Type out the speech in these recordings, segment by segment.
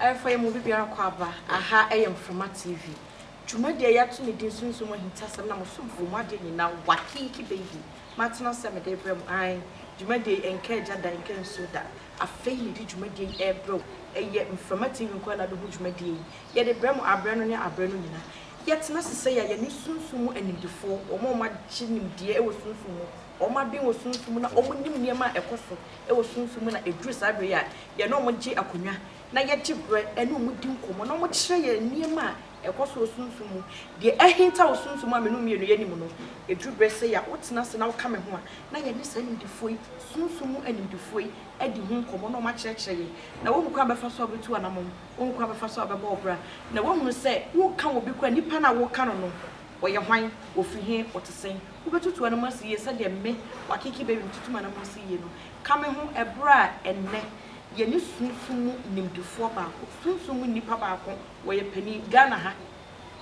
Ɛmfa yɛn mu obibiara kɔ aba, aha yɛ Mframa TV, dwumadi a yɛato ne din Sunsum mu Ahintasɛm na mo somfoɔ mu adeɛ nyinaa Wakiiki Baby matena sɛ mede rebrɛ mo ae dwumadie yi ɛnka agya da ɛnka nsuo da afei mede dwumadie yi rebrɛ wo ɛyɛ Mframa TV nkoa na bɛhu dwumadie yi yɛde brɛ mo aberɛ no ne aberɛ no nyinaa yɛtena sesɛi a yɛne sunsum mu animdefoɔ wɔn a wɔagye nimdeɛ wɔ sunsum mu Wɔaben wɔ sunsum mu na wɔnim nneɛma a ɛkɔ so wɔ sunsum mu na ɛduru saa berɛ yi a, yɛne wɔn gye akonnwa na yɛgye berɛ ne wɔn di nkɔmmɔ na wɔkyerɛ yɛn nneɛma a ɛkɔ so wɔ sunsum mu. Deɛ ahinta wɔ sunsum mu a me ne wo mmienu yɛnim no, ɛduru berɛ sɛ yɛ a wotena ase na woka me ho a na yɛne saa animdefoɔ yi, sunsum mu animdefoɔ yi, adi ho nkɔmmɔ na wɔakyerɛkyerɛ yɛn na woahu kwan a wobɛfa so a wobɛtu anamɔn, woahu kwan a wobɛfa so a wobɛbɔ wo bra na woahunu sɛ woreka obi koraa a, nipa no a woreka no no, ɔyɛ hwan, ɔfiri he, ɔte sɛn. Wobɛtutu anam asi yie sɛdeɛ me, w'Akiki Baby, metutu m'anam asi yie no. Ka me ho ɛberɛ a ɛnnɛ yɛne sunsum mu nimdefoɔ baako, sunsum mu nnipa baako wɔyɛ panin. Ghana ha,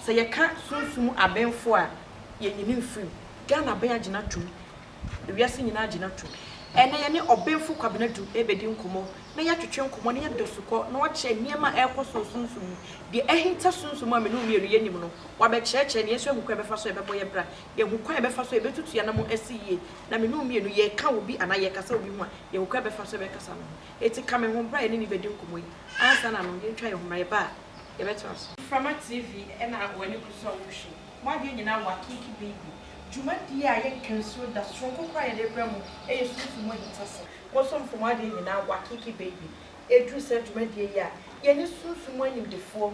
sɛ yɛka sunsum mu abenfoɔ a, yɛnyini mfiri mu. Ghana aben agyina atom. Ewiase nyinaa agyina atom. Ɛnnɛ yɛne Ɔbenfo Kwabena Adu rebɛdi nkɔmmɔ na yɛatwetwe nkɔmmɔ na yɛada sukɔ na wakyerɛ nneɛma a ɛrekɔ so wɔ sunsum mu. Deɛ ahinta sunsum mu a me ne wo mmienu yɛnim no, wabɛkyerɛkyerɛ na yɛn nso ahu kwan a yɛbɛfa so a ɛbɛbɔ yɛn bra. Yɛhu kwan a yɛbɛfa so a yebetutu yɛn anammɔn asi yiye. Na me ne wo mmienu, yɛka obi anaa yɛkasa obi ho a, yɛhu kwan a yɛbɛfa so a yɛbɛkasa no ho. Enti ka me ho bere a yɛne no bedi nkɔmmɔ yi. Ansa na no, yentwa yɛn ho mmra. Yɛba a, yɛbɛtra so. Mframa TV na w'ani ku so a worehwɛ. W'adwene nyinaa wɔ Akeeki Baby dwumadi a yɛnka nsuo da, soronko koraa a yɛde rebrɛ mo yɛ Sunsum mu ahintasɛm. Bosomfo Mo Adwene Nyinaa wɔ Akeeki Baby. Eduru saa dwumadie yi a, yɛne sunsum mu animdefoɔ.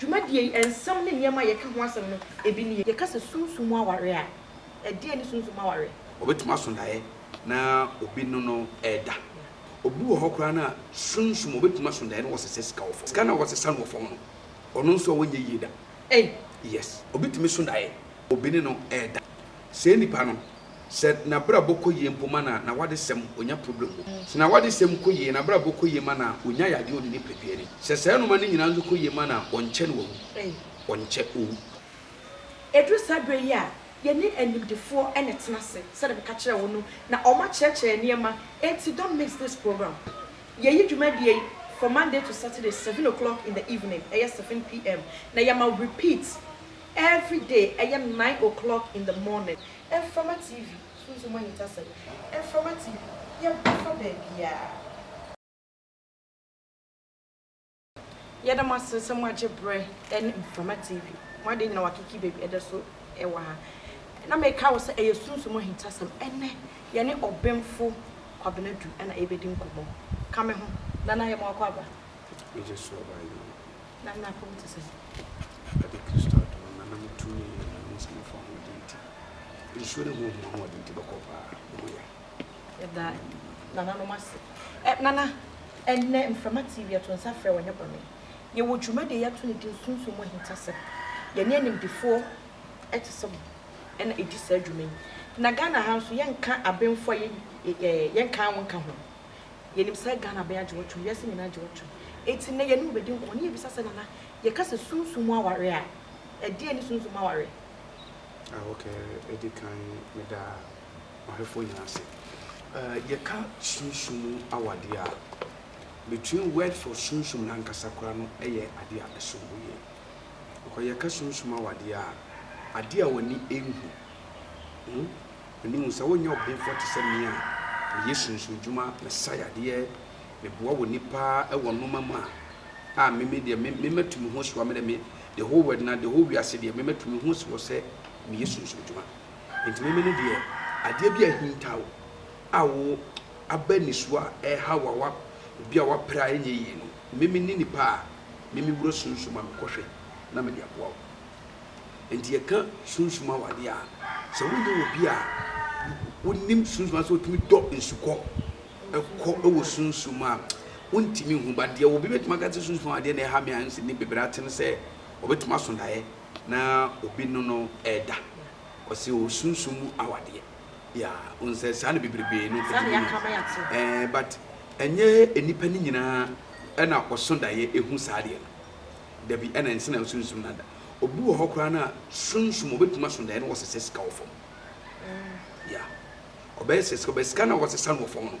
Dwumadie yi nsɛm ne nneɛma a yɛka ho asɛm no bi nie. Yɛka sɛ sunsum mu aware a, ɛdeɛn ne sunsum mu aware? Ɔbɛtumi aso daeɛ na obi ne no reda. Obi wɔ hɔ koraa no a, sunsum, ɔbɛtumi aso daeɛ na wasesa sika wɔ fam. Sika no a wasesa no wɔ fam no, ɔno nso a ɔnyɛ yie da. Ei! Yes, obi tumi so daeɛ, obi ne no reda. Sɛɛ nipa no sɛ nabrabɔ kɔ yie mpo ma na nawadesɛm ɔnya problem o, sɛ nawadesɛm kɔ yie, nabrabɔ kɔ yie ma na ɔnya yadeɛ ɔne nipadua ni, sɛ saa nnoɔma no nyinaa nso kɔ yie ma na ɔnkyɛ na wawu, ɔnkyɛ ɔwu. Ɛduru saa berɛ yi a, yɛne animdefoɔ na ɛtena ase sɛdeɛ meka kyerɛɛ wo no, na wɔn akyerɛkyerɛ yɛn nneɛma, enti don't miss this program. Yɛyi dwumadie yi from Monday to Saturday seven o'clock in the evening, ɛyɛ seven PM, na yɛma repeat Everyday ɛyɛ nine o'clock in the morning mframa TV sunsum ahintasɛm mframa TV yɛba fa baabiaa. Yɛda mo ase sɛ mo agye berɛ ɛne mframa TV mo adeɛ nyina wakiki baabi ɛda so ɛwɔ ha na meka wo sɛ ɛyɛ sunsum ahintasɛm ɛnɛ yɛne ɔbenfo Kwabena Adu ɛna ɛbɛdi nkɔmɔ ka me ho Nana yɛma wakɔ aba. Yɛgye so aba yie. Ná me apam te sɛn? Ɛde Kristo adom no na na metumi yɛ nea me nsa bɛfa ho de nti. Nsuo ne honhom ahoɔden te bɛkɔ paa. Me ho yɛ. Yɛda nananom ase. Ɛ, nana, ɛnnɛ mframa tee wie a, to nsa frɛ wɔn, ɛnyɛ bɔne. Yɛwɔ dwumadi a yɛato no din Sunsum Mu Ahintasɛm. Yɛne animdefoɔ te sɛ mo na ɛdi saa dwuma yi. Na Ghana ha nso, yɛnka abenfo a yɛn, ɛ, yɛnkan wɔn nka ho. Yɛnim sɛ Ghana bɛn agye wɔtwom, wiase nyinaa agye wɔtwom. Enti nnɛ yɛne wo bɛdi nkɔmmɔ na yɛbisa sɛ, Nana, yɛka sɛ sunsum mu aware a, ɛdeɛn ne sunsum mu aware? Ah, ok, ɛdi kan meda ɔhwɛfoɔ nyinaa ase. Eh, yɛka sunsum mu awadeɛ a, between word for sunsum no ankasa koraa no yɛ adeɛ a ɛsom bo yie. Because yɛka sunsum mu awadeɛ a, adeɛ a w'ani nhu, hmm, M'ani hu sɛ wonyɛ ɔbenfoɔ te sɛ me a meyɛ sunsundwuma, mesae adeɛ, meboa wɔ nnipa wɔ nnoɔma mu a, a me me deɛ me me matu me ho asi hɔ a me deɛ me the whole world na the whole wiase deɛ me matu me ho asi hɔ sɛ meyɛ sunsundwuma. Nti me me no deɛ adeɛ bi a ahinta wo a wo aba nisuo a ɛreha wo a wa obi a wapere a ɛnyɛ yie no me me ne nipa a me me wura sunsum a mekɔhwɛ na mede aboa wo. Enti yɛka sunsum awade a, sɛ wonya obi a wonim sunsum ase otumi dɔ nsukɔ kɔ wɔ sunsum a wontumi hu ba deɛ obi bɛtumi aka sɛ sunsum adeɛ na ɛha me a nsi ne bebree atene sɛ ɔbɛtumi aso daeɛ na obi no no ɛda ɔsɛ wɔ sunsum mu awadeɛ ya wo nsɛ saa na bebrebe no ɛɛ but ɛnyɛ nnipa no nyinaa ɛna ɔso daeɛ ɛhu saa adeɛ no Dabi, ɛna ɛnsɛ na osunsum dada. Obi wɔ hɔ koraa no a, sunsum, obetumi aso daeɛ na wasesa sika wɔ fam. Yeah. Ɔbɛyɛ sɛ sika, ɔbɛyɛ sika na wasesa no wɔ fam no.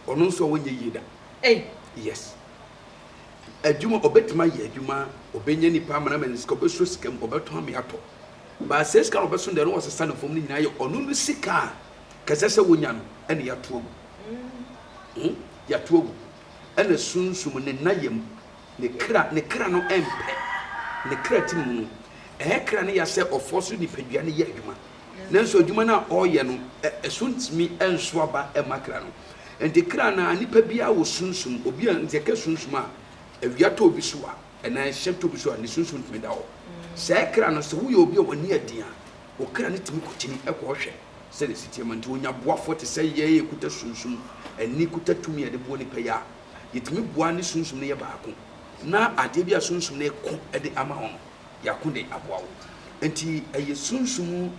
Ɔno nso a wɔnyɛ yie da. Ei! Yes. Adwuma, obetumi ayɛ adwuma, obenya nipa ama no ama no sika, obesuo sika mu, ɔbɛtɔ ama yɛatɔ. But sɛ sika na ɔbɛso daeɛ na wasesa no fam no nyinaa yɛ ɔno no sika a kɛsɛ sɛ wonya no ɛna yɛato agu. Hmm? Yɛato agu. Ɛna sunsum, ne nna yam, Ne kra, ne kra no mpɛ. Ne kra ti mu no, ɛyɛ kra no ya sɛ ɔfoɔ so nipadua no yɛ adwuma. Nanso adwuma no a ɔreyɛ no, ɛso ntumi nso aba mma kra no. Enti kra no ara, nipa biara wɔ sunsum. Obi a, nti yɛka sunsum a, awia tɔ obi so a, anaa ɛhyɛ tɔ obi so a, ne sunsum tumi da hɔ. Saa kra no, sɛ woyɛ obi a w'ani yɛ den a, wo kra no tumi kotini kɔhwɛ sɛdeɛ ɛsi teɛ ma nti, onya boafoɔ te sɛ yɛn a yɛkuta sunsum. Ani kuta tumi a ɛde boa nipa yi a. yɛtumi boa ne Sunsum no yɛ baako, na adeɛ bi a Sunsum no reko de ama wo no, yɛako de aboa wo. Nti ɛyɛ Sunsum mu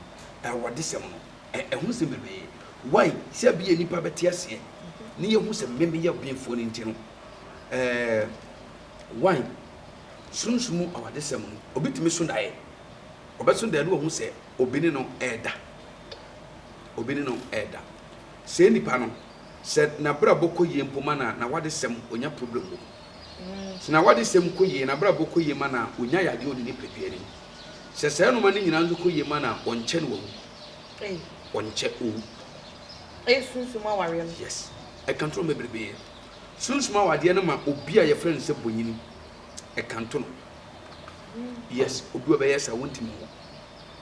awɔdesɛm no, ɛho sɛm bebree. Wai? Sɛ ɛbɛyɛ nnipa bɛte aseɛ, ne yɛahu sɛ me meyɛ ɔbenfoɔ no nti no, ɛɛ, wai? Sunsum mu awɔdesɛm no, obi tumi so daeɛ, ɔbɛso daeɛ na wahu sɛ obi ne no reda, obi ne no reda. Sɛɛ nipa no sɛ nabrabɔ kɔ yie mpo ma na nawadesɛm ɔnya problem wɔ mu. Sɛ nawadesɛm kɔ yie, nabrabɔ kɔ yie ma na ɔnya yadeɛ ɔdi ne pɛduani. Sɛ saa nnoɔma no nyinaa nso kɔ yie ma na ɔnkyɛ na wawu. Ei. Ɔnkyɛ ɔwu. Ei sunsum awareɛ no. Yes. Ɛka nto no bebrebee. Sunsum awadeɛ no ma obi a yɛfrɛ no sɛ bonyini. Ɛka nto no. Yes, obi a ɔbɛyɛ saa, ɔntumi nwu.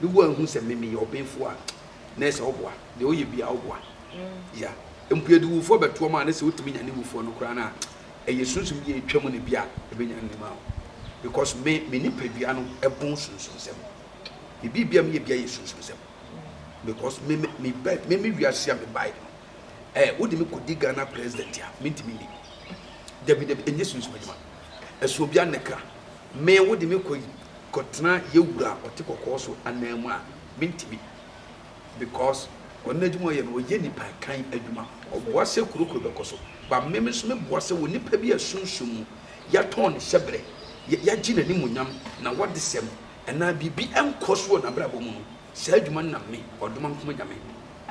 No wo anhu sɛ me meyɛ ɔbenfoɔ a na ɛsɛ ɔboa deɛ ɔyɛ biaa ɔboa ya mpo yɛde wufoɔ bɛtoɔ mu a na sɛ wotumi nyane wufoɔ no koraa no a ɛyɛ sunsum bi a ɛtwa mu na bi a ɛbɛnyane no ma wo because me me nipadua no ɛbon sunsumsɛm me biribia meyɛ bia yɛ sunsumsɛm because me me me ba me me wiase a me bae no eh wode me kɔdi Ghana president a mentumi ni dabi dabi ɛnyɛ sunsum adwuma ɛso obi anekra me wode me kɔ yi kɔtena yɛ wura a ɔte kɔkɔɔ so anan mu a mentimi because ɔno n'adwuma ɔyɛ no ɔyɛ nipa kan adwuma ɔboa sɛ kuro kuro bɛkɔ so but me nso me boa sɛ wɔ nipa bi a sunsum mu yɛatɔn ne hyɛbrɛ yɛagye n'animuonyam na wɔdesɛm anaa biribi nkɔ so wɔ n'abrabɔ mu no saa adwuma no na me ɔdoma nkoma nyame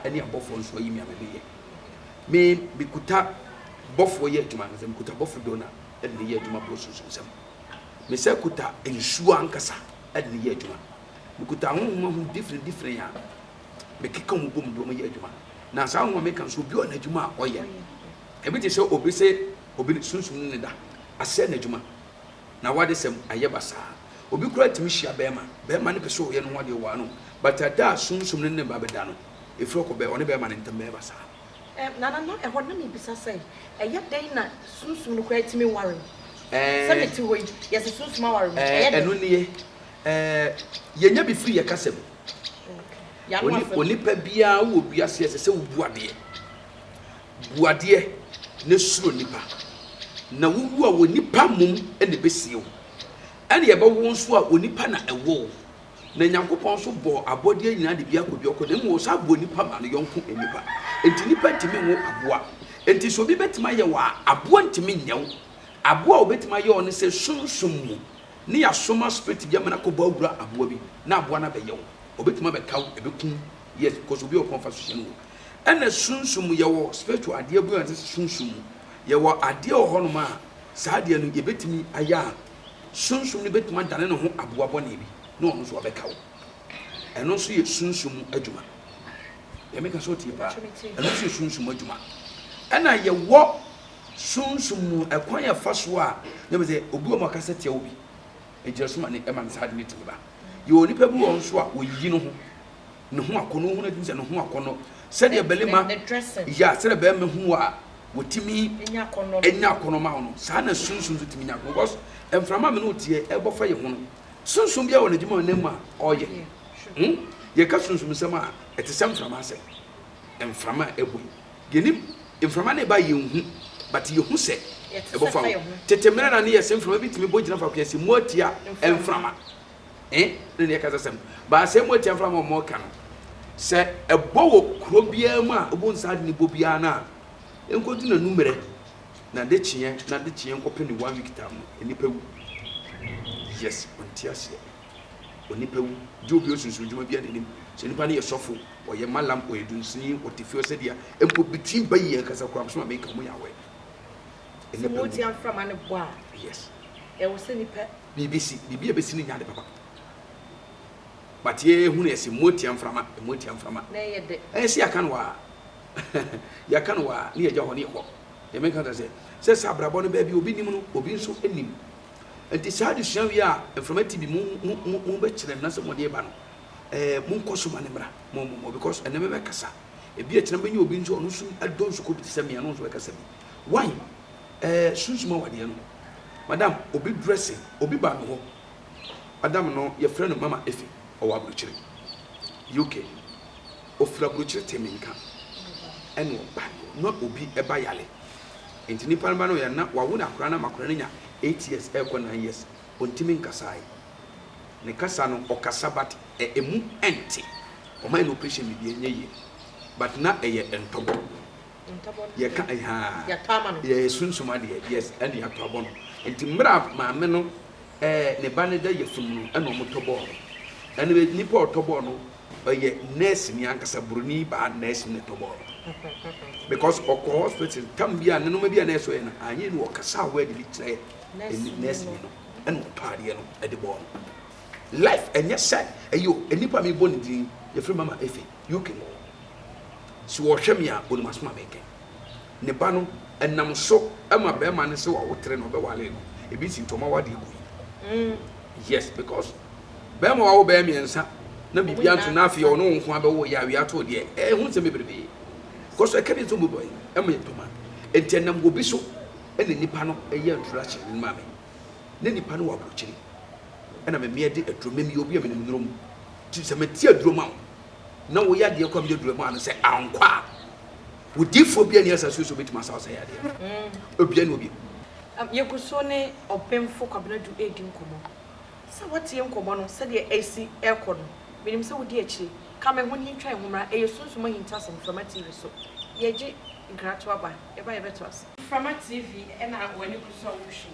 ɛne abɔfoɔ nso ayi me a memeyɛ me mekuta bɔfoɔ yɛ adwuma no sɛ mekuta bɔfo dona ɛna meyɛ adwuma boro sunsum sɛm Me nsa kuta nsuo ankasa de no yɛ adwuma. Mekuta ahonhom ahorow different different a mekeka wɔn bom de wɔn yɛ adwuma. Na saa ahonhom a meka no so, obi wɔ n'adwuma a ɔyɛ. Ebi te sɛ obi se obi ne sunsum no ne da asɛe n'adwuma na w'adesɛm ayɛ basaa. Obi koraa tumi hyia barima, barima no pɛ sɛ ɔyɛ ne ho adeɛ, ɔware no, but da a sunsum no ne ne ba bɛda no, ɛfiri ɔkɔ bɛ ɔne barima no ntam bɛyɛ basaa. Nana, na ɛhɔ na mebisa sɛ, ɛyɛ dɛn na sunsum no koraa tumi ware me? Sɛ mete hɔ yi, yɛse sunsum aware me, ɛyɛ dɛn? Ɛno nie, yɛnya bi firi yɛn kasa mu. Onipa biara wɔ wiase ha, ɛsɛ sɛ wobu adeɛ. Bu adeɛ na suro nnipa. Na wowu a, onipa mmom na ɛbɛsie wo. Ɛna yɛbɛwo wo nso a, onipa na ɛwɔ wo. Na Nyankopɔn nso bɔɔ abɔdeɛ nyinaa de bi akɔdi ɔko, na mmom ɔsan bɔɔ nipa maa ne yɔnko nnipa. Enti nnipa ntumi nwo aboa. Enti sɛ obi bɛtumi ayɛ wo a, aboa ntumi nyɛ wo. Aboa a ɔbɛtumi ayɛ wo ne sɛ sunsum mu ne yɛasoma spirit bi ama no akɔbɔ awura aboa bi na aboa no abɛyɛ wo. Ɔbɛtumi abɛka wo, ɛbɛku wo. Yes, because obi a ɔpɔn fa so hyɛ no wɔ. Ɛna sunsum mu, yɛwɔ spiritual adeɛ bi a yɛfrɛ no sɛ sunsum mu. Yɛwɔ adeɛ wɔ hɔnom a saa adeɛ no yɛbɛtumi ayɛ a Sunsum no betumi adane ne ho aboa bɔne bi na ɔno nso abɛka wo. Ɛno nso yɛ sunsum mu adwuma. Deɛ meka sɛ ɔtie paa. Ɛno nso yɛ sunsum mu adwuma. Ɛna yɛwɔ sunsum mu ɛkwan yɛ fa so a na bɛ sɛ obi wɔ mu ɔkasa tia obi. Nkyerɛso ma ne ma ne saa ade no tumi ba. Yɛwɔ nipa bi wɔ hɔ nso a oyiyi ne ho. ne ho akɔnɔ ohun adi sɛ ne ho akɔnɔ sɛdeɛ bɛrima ya sɛdeɛ bɛrima hu a wɔtumi nya akɔnɔ ma no saa na sunsun nso tumi nya akɔnɔ because mframa mi no teɛ ɛbɔ fa yɛ ho no sunsun bi a wɔ n'adwuma wɔ nan mu a ɔyɛ hmm yɛka sunsun nsɛm a ɛte sɛ mframa asɛm mframa a ɛbɔ yi yɛnim mframa no ɛba yɛn hu but yɛhu sɛ ɛbɔ fa ho tete mmerɛ na ne yɛ sɛ mframa bi tumi bɔ gyina fa kɔyɛ sɛ mu atia mframa eh, ne deɛ ɛkasa sɛm. Ba asɛm mu atiafoɔ no a wɔreka no, sɛ ɛbɔ wɔ kuro biara mu a wobɛhu saa ade no bɔ biara no a, ɛnkɔdu n'anummerɛ, n'adekyeɛ, n'adekyeɛ nkɔpem ne one week time no, nnipa wu. Yes, ɔnte aseɛ. Onipa wu. Gye obi osunsun adwuma biara n'anim. Sɛ nipa no yɛ sɔfo, ɔyɛ malam, ɔyɛ dunsini, ɔte fie ɔsɛ deɛ, mpo bitin bayi yɛ nkasa koraa, bɛsɛ ma meka, ɔmo yɛ aware. Sɛ wɔn ti amframa no bɔ a, yes. Ɛwɔ sɛ nipa Biribi si, biribi a ɛbɛsi no nyɛ ade papa. But yɛ yɛ hunu ɛse mmoa tia mframa, mmoa tia mframa. Na ɛyɛ dɛ. Ɛyɛ se yɛaka no waa, yɛaka no waa ne yɛgya hɔ ne yɛkɔ. Deɛ meka kyerɛ sɛ, sɛ sɛ abrabɔ no baabi a obi nim no, obi nso nim. Nti saa adesua wei a mframa ti bi mo, mo, mo, mo bɛkyerɛ no na sɛ mode ba no, ɛɛ, monkɔ so ma no mmra. Mo, mo, mo, because ɛnɛ me bɛkasa. Ebi a kyena mɛnya obi nso a ɔno nso adɔ nsuko bi te sɛ me a, na ɔno nso bɛkasa bi. Why? Eh sunsum awadeɛ no madam obi dresse obi baa me hɔ madam no yɛfrɛ no mama efe ɔwɔ abrokyire UK ofiri abrokyire tee me nka ɛna ɔbae hɔ na obi ɛba yale nti nipa no ba no yɛ na wawo no akora no ama akora no nya eight years ɛkɔ nine years ontimi nkasae ne kasa no ɔkasa but emu ɛnte ɔmae no operation biribi ɛnyɛ yie but na ɛyɛ ntɔbɔ. yɛka ahaa yɛyɛ sunsum adeɛ yes ɛne yɛatɔ abɔ no nti mmerɛ a maame no ɛɛ ne ba no da yafunu no ɛna wɔn tɔ bɔɔl no ɛna nipa ɔtɔ bɔɔl no ɔyɛ nurse ni ankasa buroni baa nurse ne tɔ bɔɔl because ɔkɔ hospital tam bi a ne nneɛma bi a na ɛsɔ yɛ no anyi no ɔkasa a wɔde bi kyerɛ nurse ni no ɛna ɔtɔ adeɛ no ɛde bɔɔl no life ɛnyɛ sɛ ɛyɛ nipa mi bɔ ne din yɛfrɛ mama efe UK hɔ. Se wɔhwɛ me a, Onim'aso ma meke. Ne ba no, ɛnam so ma bɛɛma no se wawotere no, ɔbɛware no. Ebi se nti ɔma awadeɛ kɔ yie. Yes, because bɛɛma wawo bɛyɛ mmiɛnsa na biribiara nto na afei ɔne wo nko ara bɛwo yɛ a, wia too deɛ. Ɛɛ ho nsɛm bebrebe kɔ so. Ɛka bi nso mobɔ yi, ɛma yɛ dwuma. Nti ɛnam obi so na nipa no yɛ introduction no ma me. Ne nipa no wɔ abrokyire. Ɛna me mmea di aduro. Me meyɛ obi a menim nnuro mu. Nti sɛ mete aduro ma wo na wo yadeɛ kɔ a meyɛ aduro maa no sɛ ankɔ a wo difoɔ bia ni asase so obɛtumi asaw sɛ yadeɛ no obia ni obia. Yɛgu so ne Ɔbenfo Kwabena Adu redi nkɔmmɔ. Sɛ woatie nkɔmmɔ no sɛdeɛ ɛresi rekɔ no, menim sɛ wodi akyire. Ka me ho na yɛntwa yɛn ho mmra. Ɛyɛ Sunsum Ahintasɛm, Mframa TV so. Yɛgye nkratoaba, yɛba a yɛbɛto ase. Mframa TV na w'ani gu so a wohwɛ yi.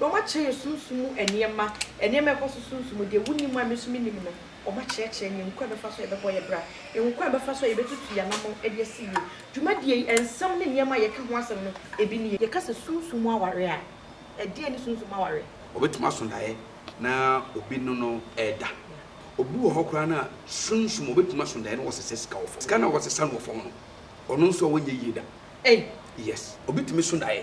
Na wɔakyerɛ sunsum mu nneɛma, nneɛma a ɛkɔ so sunsum mu, deɛ wonim a me nso mennim no, wɔakyerɛkyerɛ yɛn kwan a yɛbɛfa so a yɛbɛbɔ yɛn bra, kwan a yɛbɛfa so a yɛbɛtutu yɛn anammɔn de asi yie. Dwumadie yi, nsɛm ne nneɛma a yɛka ho asɛm no, ebi nie. Yɛka sɛ sunsum mu aware a, ɛdeɛn ne sunsum mu aware? Ɔbɛtumi aso daeɛ na obi ne no reda. Obi wɔ hɔ koraa no a, sunsum, ɔbɛtumi aso daeɛ na wasesa sika wɔ fam. Sika no a wasesa no wɔ fam no, ɔno nso a ɔnyɛ yie da. Ei! Yes, obi tumi so daeɛ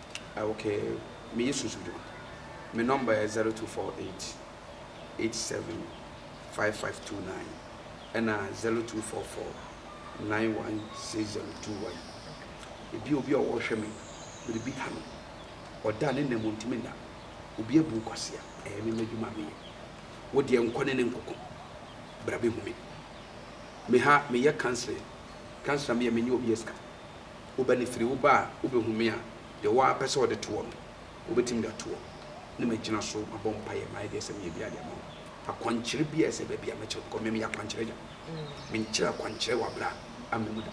Okay me yɛ susudu me number yɛ zero two four eight eight seven five five two nine ɛna zero two four four nine one six zero two one ebi obi a ɔhwɛ me bere bi ha no ɔda ne nam ntumi nna obi abu kwasea ɛyɛ me madwuma me yɛ wo deɛ nkɔ ne ne nkoko bra bi hu me me ha me yɛ counseling counseling me yɛ me nyɛ obi esika wo ba no firi wo ba a wobɛhu me a deɛ ɔwɔ ara pɛ sɛ ɔde toɔ no, wobɛtumi de atoɔ na magyina so mabɔ mpaeɛ mayɛ deɛ ɛsɛ meyɛ biara de ama wo. Akwankyerɛ biara a ɛsɛ baabi a mɛkyerɛ wo because me meyɛ akwankyerɛ agya. Menkyerɛ akwankyerɛ wɔ abra amena mu da.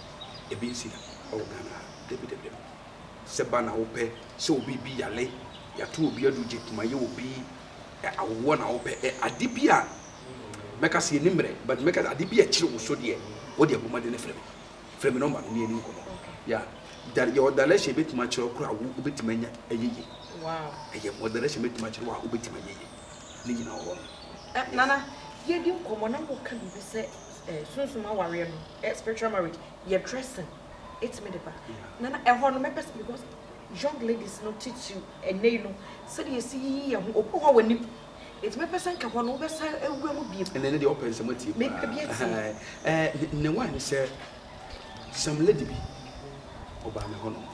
Ɛbi nsi da wɔ Ghana ha. Dabi dabi dabi. Sɛ ba na wopɛ sɛ obi bi yale, yɛato obi aduro, gye kuma yɛ obi, ɛ, awoɔ na wopɛ, ɛ, ade bi a mɛka sɛ ɛni mmerɛ but mɛka sɛ ade bi a ɛkyere wo so deɛ, wodeɛ bɔ mmɔden frɛ me. Frɛ me nɔmba no ne yɛni nkɔmmɔ. Yeah. Da yɛwɔ direction bɛtumi akyerɛ koro a wobɛtumi anya ɛyɛ yie. Ɛyɛ mɔ direction bɛtumi akyerɛ wɔ a wobɛtumi ayɛ yie. Ne nyinaa wɔ hɔ no. Eh, Nana, yɛdi nkɔmmɔ na woka biribi sɛ eh, sunsum awareɛ no, eh, spiritual marriage, yɛ dressing ɛtumi de ba. Nana, ɛhɔ no mɛpɛ sɛ because young ladies no titiriw ɛnɛ yi no sɛdeɛ yɛsi yiyi yɛn ho obi wɔ hɔ a w'anim Enti mɛpɛ sɛ anka hɔ no wobɛsan awura mu bio. Ɛnɛ ne deɛ ɔpɛ nsɛm atie paa. Mepɛ bi atie. Ɛɛ ne wa ne sɛ some lady bi ɔbaa me hɔ nom.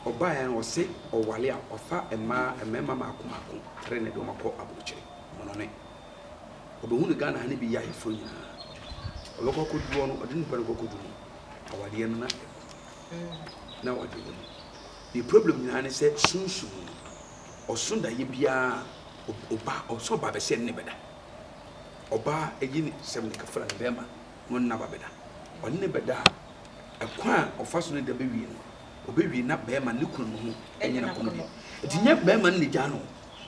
Ɔbaa yɛn ɔse ɔwale a wafa mmaa mmarima maako maako tre ne de wɔn akɔ abrokyire monone. Ɔbɛhu no Ghana ha ne bi yɛ ayeforo nyinaa. Ɔbɛkɔ akɔdu hɔ no ɔde ne nipa no kɔ akɔdu no awadeɛ no na ɛku na awadeɛ no mu. Ne problem nyinaa ne sɛ sunsum no. ɔso dayɛ biara ɔba ɔso ɔba bɛsɛ ɛne bɛda ɔba ɛyi ne sɛm ne kafra ne bɛrima no nna ba bɛda ɔne ne bɛda a ɛkwan a ɔfa so ne da bɛwie no ɔbɛwie na bɛrima ne kunu no ho ɛnyɛ na kɔno bi ɛti nyɛ bɛrima no ne gya no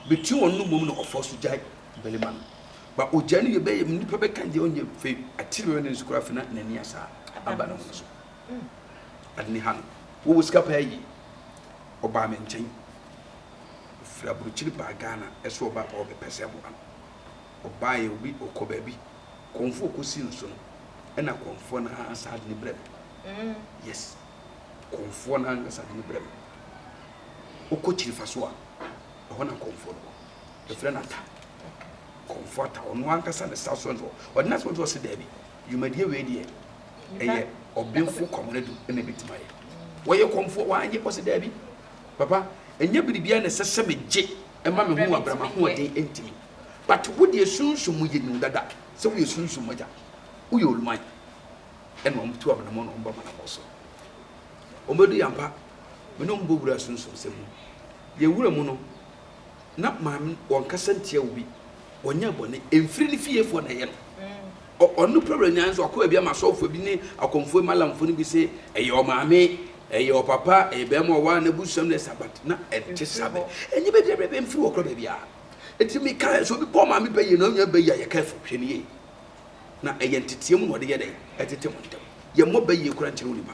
bɛtumi wɔn no mmom na ɔfa so gyae bɛrima no ba ɔgya no yɛ bɛyɛ nipa bɛka deɛ ɔnyɛ fei atiri bɛbɛ ne nso koraa fina n'ani asaa aba no ho so Ade ne ha no, wowɔ sika paa yie. Ɔbaa me nkyɛn. Ɔfiri aburokyiri baa Ghana ɛsɛ ɔba paa ɔbɛpɛ sɛ ɛboa no. Ɔbaeɛ obi ɔkɔ baabi kɔnfoɔ kɔsi no so no ɛna kɔnfoɔ no ara saa de ne brɛ me. Yes, kɔnfoɔ no ankasa de ne brɛ me. Wokɔ kyirifa so a, ɛhɔ na kɔnfoɔ no wɔ. Yɛfrɛ no ata. Kɔnfoɔ ata, ɔno ankasa ne sa so nso. Ɔde n'asɛm nso ɔse daabi. Dwumadie wei deɛ ɛyɛ ɔbenfoɔ Kwamina Adu na ɛbɛtumi ayɛ. Wɔyɛ kɔmfoɔ wanyɛ? Ɔse daabi papa ɛnyɛ biribiara na ɛsɛ sɛ megye ma me ho wɔ abira m'ahoɔden ntumi but wo deɛ sunsum mu yɛnim wo dada sɛ woyɛ sunsum mu agya woyɛ oluman ɛna wɔn tu amenamɔ na wɔn ba manamɔ so wɔn bɛdu yɛn ampa me ne wɔn bɔ wura sunsum sɛm mu yɛn wura mu no Na maame no ɔnkasa ntia obi, ɔnyɛ bɔne, ɛmfiri ne fiefoɔ na ɛyɛ no. Ɔno pɛ wura nyaa nso wakɔ baabi ama asɔfoɔ bi ne akɔmfoɔ malamfoɔ no bi se ɛyɛ ɔmaame, ɛyɛ ɔpapa, ɛyɛ bɛrima ɔwaa na busua no ɛsa but na ɛnte saa bɛ. Ɛnyɛ baabi a bɛbɛ mfiri wɔ korɔ baabi a. Ɛti me ka sɛ obi bɔ maame pɛ yie na ɔnyaa bɛ yie a yɛ careful hwɛ no yie. Na ɛyɛ nteteɛ mu na ɔde yɛ dɛn ɛtete mo ntɛm. Yɛ mmɔ bɛ yie koraa nkyerɛ onipa.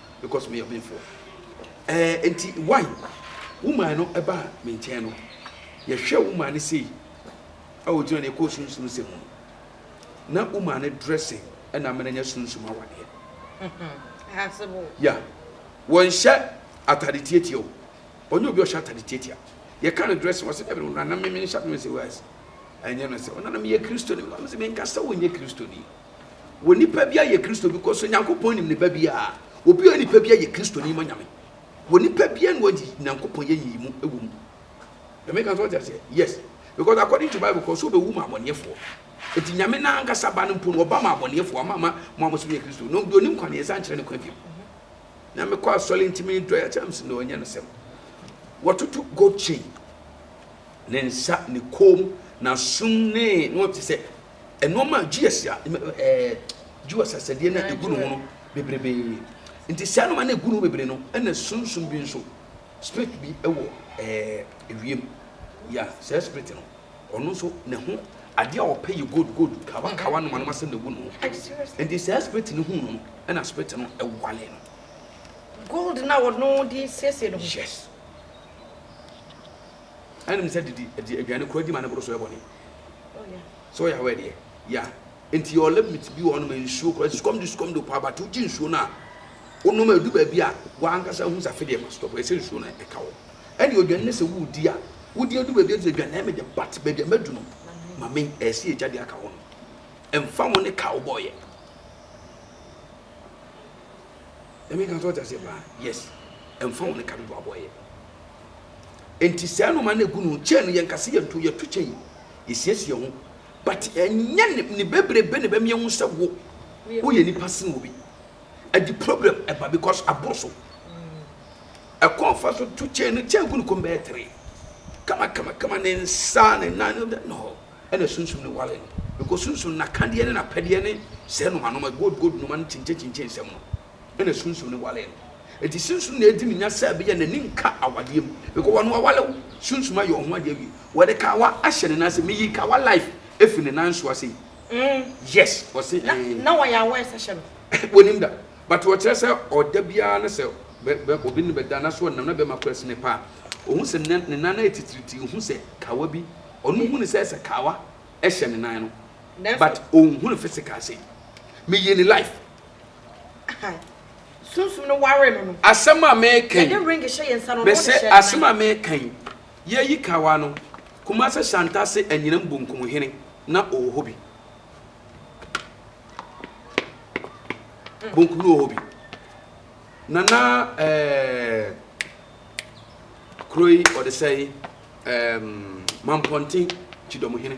because meyɛ ɔbenfoɔ. Ɛɛ enti why woman no ɛbaa me nkyɛn no, yɛhwɛ woman no sei a ɔgyina no ɛkɔɔ sunsum nsɛm mu no, na woman no dressing ɛna ama no anya sunsum awadeɛ. Yeah, wɔnhyɛ atade tiatia o, ɔnyɛ obi a ɔhyɛ atade tiatia. Yɛka no dressing, ɔsɛ dɛbi no, nana me menhyɛ atade, mese wise, ɛnyɛ no sɛ, ɔnana meyɛ Kristoni, mese menkasa wonyɛ Kristoni. Wɔ nipa biara yɛ Kristo bi kɔ so Nyankopɔn nim ne ba biara obi ɔyɛ nipa biara yɛ Kristoni ma Nyame wɔ nipa biara na ɔgye Nyankopɔn yɛ nyiyimu ɛwɔ mu Nyame ka so ɔte aseɛ yes because according to Bible kɔ so ɔbɛwu ma abɔneɛfoɔ eti Nyame na ankasa ba no mpo no ɔba ma abɔneɛfoɔ ama ama mo a mo so yɛ Kristo no deɛ onim kwan yɛn nsa nkyerɛ ne kwan bio na mekɔ asɔre ntumi dɔ yɛ akyɛm si na ɔnyɛ no sɛm wɔtoto gold chain ne nsa ne kɔn mu na sum ne na ɔte sɛ nnoɔma a GS a ɛɛ GS asɛdeɛ no a ɛgu ne ho no bebrebee nti saa nnoɔma no ɛgu ne ho bebree no ɛna sunsum bi nso spirit bi ɛwɔ ɛɛ ewiem ya saa spirit no ɔno nso ne ho adeɛ a ɔpɛ yɛ gold gold kawa kawa nnoɔma no asɛm na ɛgu ne ho nti saa spirit no hu no no ɛna spirit no ɛwale no. gold na wɔno de siesie no yes ɛnim sɛ didi aduane kora di ma ne boro so ɛbɔ ne Oh yeah. Sɛ ɔyɛ awɛ deɛ yeah nti yɛwɔ limit bi wɔ hɔ nom nsuo kora sukɔm de sukɔm de ɔpa but wogye nsuo no a wonom a ɛdu baabi a wankasa hu sɛ afe deɛ ma stop ɛsɛ nsuo no ɛka wɔ ɛne odwane ne sɛ wodi a wodi adu baabi a ɛsɛ dwane ɛme de but baabi a madu no ma me ɛsɛ yɛgya de aka hɔ no ɛmfa ho ne ka wobɔɔyɛ ɛme ka sɛ ɔte aseɛ paa yes ɛmfa ho ne ka dodo abɔɔyɛ Enti saa nnoɔma no ɛgu no chain no yɛnka sɛ yɛnto yɛto chain yɛsiesie ho but ɛnyɛ ne ne bebrebe na ɛbɛma yɛhu sɛ wo woyɛ nipa sen obi ɛde problem ɛba because aboro so ɛkɔn fa so to chain no chain gu no kɔm bɛyɛ three kama kama kama ne nsa ne nan no dɛ no ɛna sunsum no wale no because sunsum nakadeɛ ne napɛdeɛ ne sɛ noma noma gold gold noma no kyinkyin kyinkyin sɛm no na sunsum no waree no. Enti sunsum na edi ne nya sɛ ɛbɛyɛ n'ani nka awadeɛ mu because ɔno waware wo, sunsum ayɛ ɔho adeɛ awie. Wɔde kawa ahyɛ ne nan ase, meyi kawa life ɛfiri ne nan so ase yi. Yes, ɔse ee. Na wɔyɛ aware sɛ hyɛ no. Wɔnim da, but ɔkyerɛ sɛ ɔda biara na sɛ obi ne bɛda na sɛ ɔnam na bɛrima kura si ne paa ɔhu sɛ ne nan no ayɛ titiritii, ɔhu sɛ kawa bi, ɔno hu ne sɛ sɛ kawa ɛhyɛ ne nan no but ɔnhu no physical sei. Meyi ne life. Sunsum no waree no no. Asɛm a mereka yi, Yɛde ring hyɛ yɛn nsa no, ɔno mese, de hyɛ ne asɛm a nan. mereka yi, Yɛayi kawa no, Kumase Hyɛantase anyinam bonkum hene na ɔwɔ hɔ bi. Bonkum no wɔ hɔ bi. Nana eh, kuro yi ɔde sɛe eh, Mampɔnten kyidɔmhene.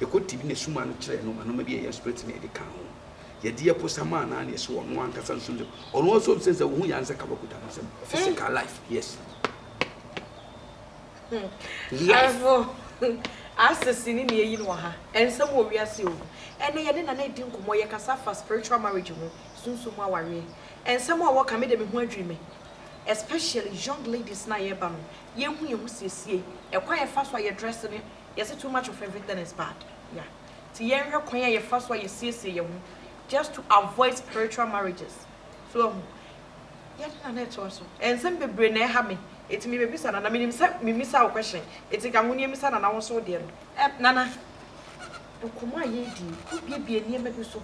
Yɛkɔ tibi na suma no kyerɛɛ no ma noma bi a ɛyɛ spirit na yɛde kaa ho. Yɛde yɛ posa maa no ara na yɛhyɛ ɔno ankasa nso nsam. Ɔno nso nsɛ sɛ wohu yɛ ansɛ ka bɔkuta no nsam. Physical life, yes. Life. Asese ne nea eyi no wɔ ha. Nsɛm wɔ wiase o. Ɛnɛ yɛne Nana redi nkɔmmɔ, yɛkasa fa spiritual marriage ho, sunsum mu awareɛ. Nsɛm a wɔka me de me ho adwiri me. Especially young ladies no a yɛreba no, yɛnhu yɛn ho siesiei, ɛkwan a yɛfa so a yɛdrɛse ne. Yɛse too much of everything is bad yeah nti yɛnhwɛ kwan a yɛfa so a yɛsiesie yɛn ho just to avoid spiritual marriages so wahu yɛde nana ɛtoa so ɛnsɛm bebree na ɛha me eti mebɛbisa nana menim sɛ memisa wo question eti ka ho ne ɛmisa nana wo nso wo deɛ no ɛm nana nkɔmmɔ a yɛredie wobiebie nneɛma bi so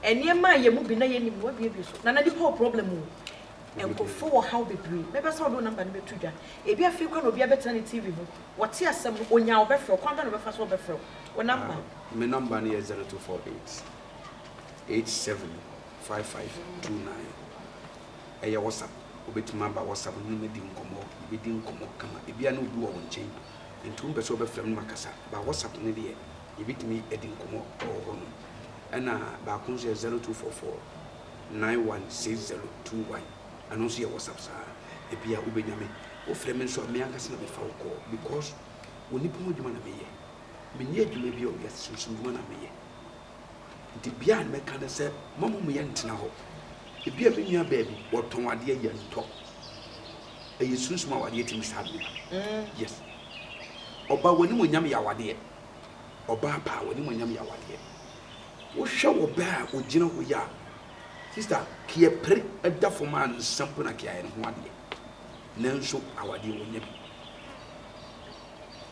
nneɛma a yɛn mu bi na yɛnim no wabiebie so nana nipa wɔ problem o nkurɔfoɔ wɔ haw bebree mɛbɛsa wode wo number no bɛto dwa ebi afei kora na obi abɛtena ne tv ho Wɔte asɛm no, onyaa ɔbɛfrɛ wo. Kwan bɛn na ɔbɛfa so ɔbɛfrɛ wo? Wo namba? Me namba no yɛ zero two four eight eight seven five five two nine. Ɛyɛ WhatsApp. Wobɛtumi aba WhatsApp no ne madi nkɔmmɔ. Yɛbɛdi nkɔmmɔ kama. Ebia na obi wɔ wo nkyɛn nti wompɛ sɛ wobɛfrɛ me na makasa. Ba WhatsApp no deɛ yɛbɛtumi adi nkɔmmɔ wɔ hɔ nom. Ɛna baako nso yɛ zero two four four nine one six zero two one. Ɛno nso yɛ WhatsApp saa. Ebia wobɛnya me. Wofrɛ me nso a, me ankasa na mefa wo call because onipa ho adwuma na meyɛ. Menni adwuma biara o, wiase sunsum dwuma na meyɛ. Nti bia a mɛka ne sɛ ma mo mmiɛ ntena hɔ. Ebia me nua baa bi, wɔtɔn adeɛ, yɛntɔ. Ɛyɛ sunsum awadeɛ tumi saa nneɛma no. Yes. Ɔbaa w'animuonyam yɛ awadeɛ. Ɔbaa paa w'animuonyam yɛ awadeɛ. Wohwɛ ɔbaa a ɔgyina hɔ yi a, Sister kiɛ pere ɛda fam a nsa mpo na kiayɛ ne ho adeɛ nanso awadeɛ wɔnya bi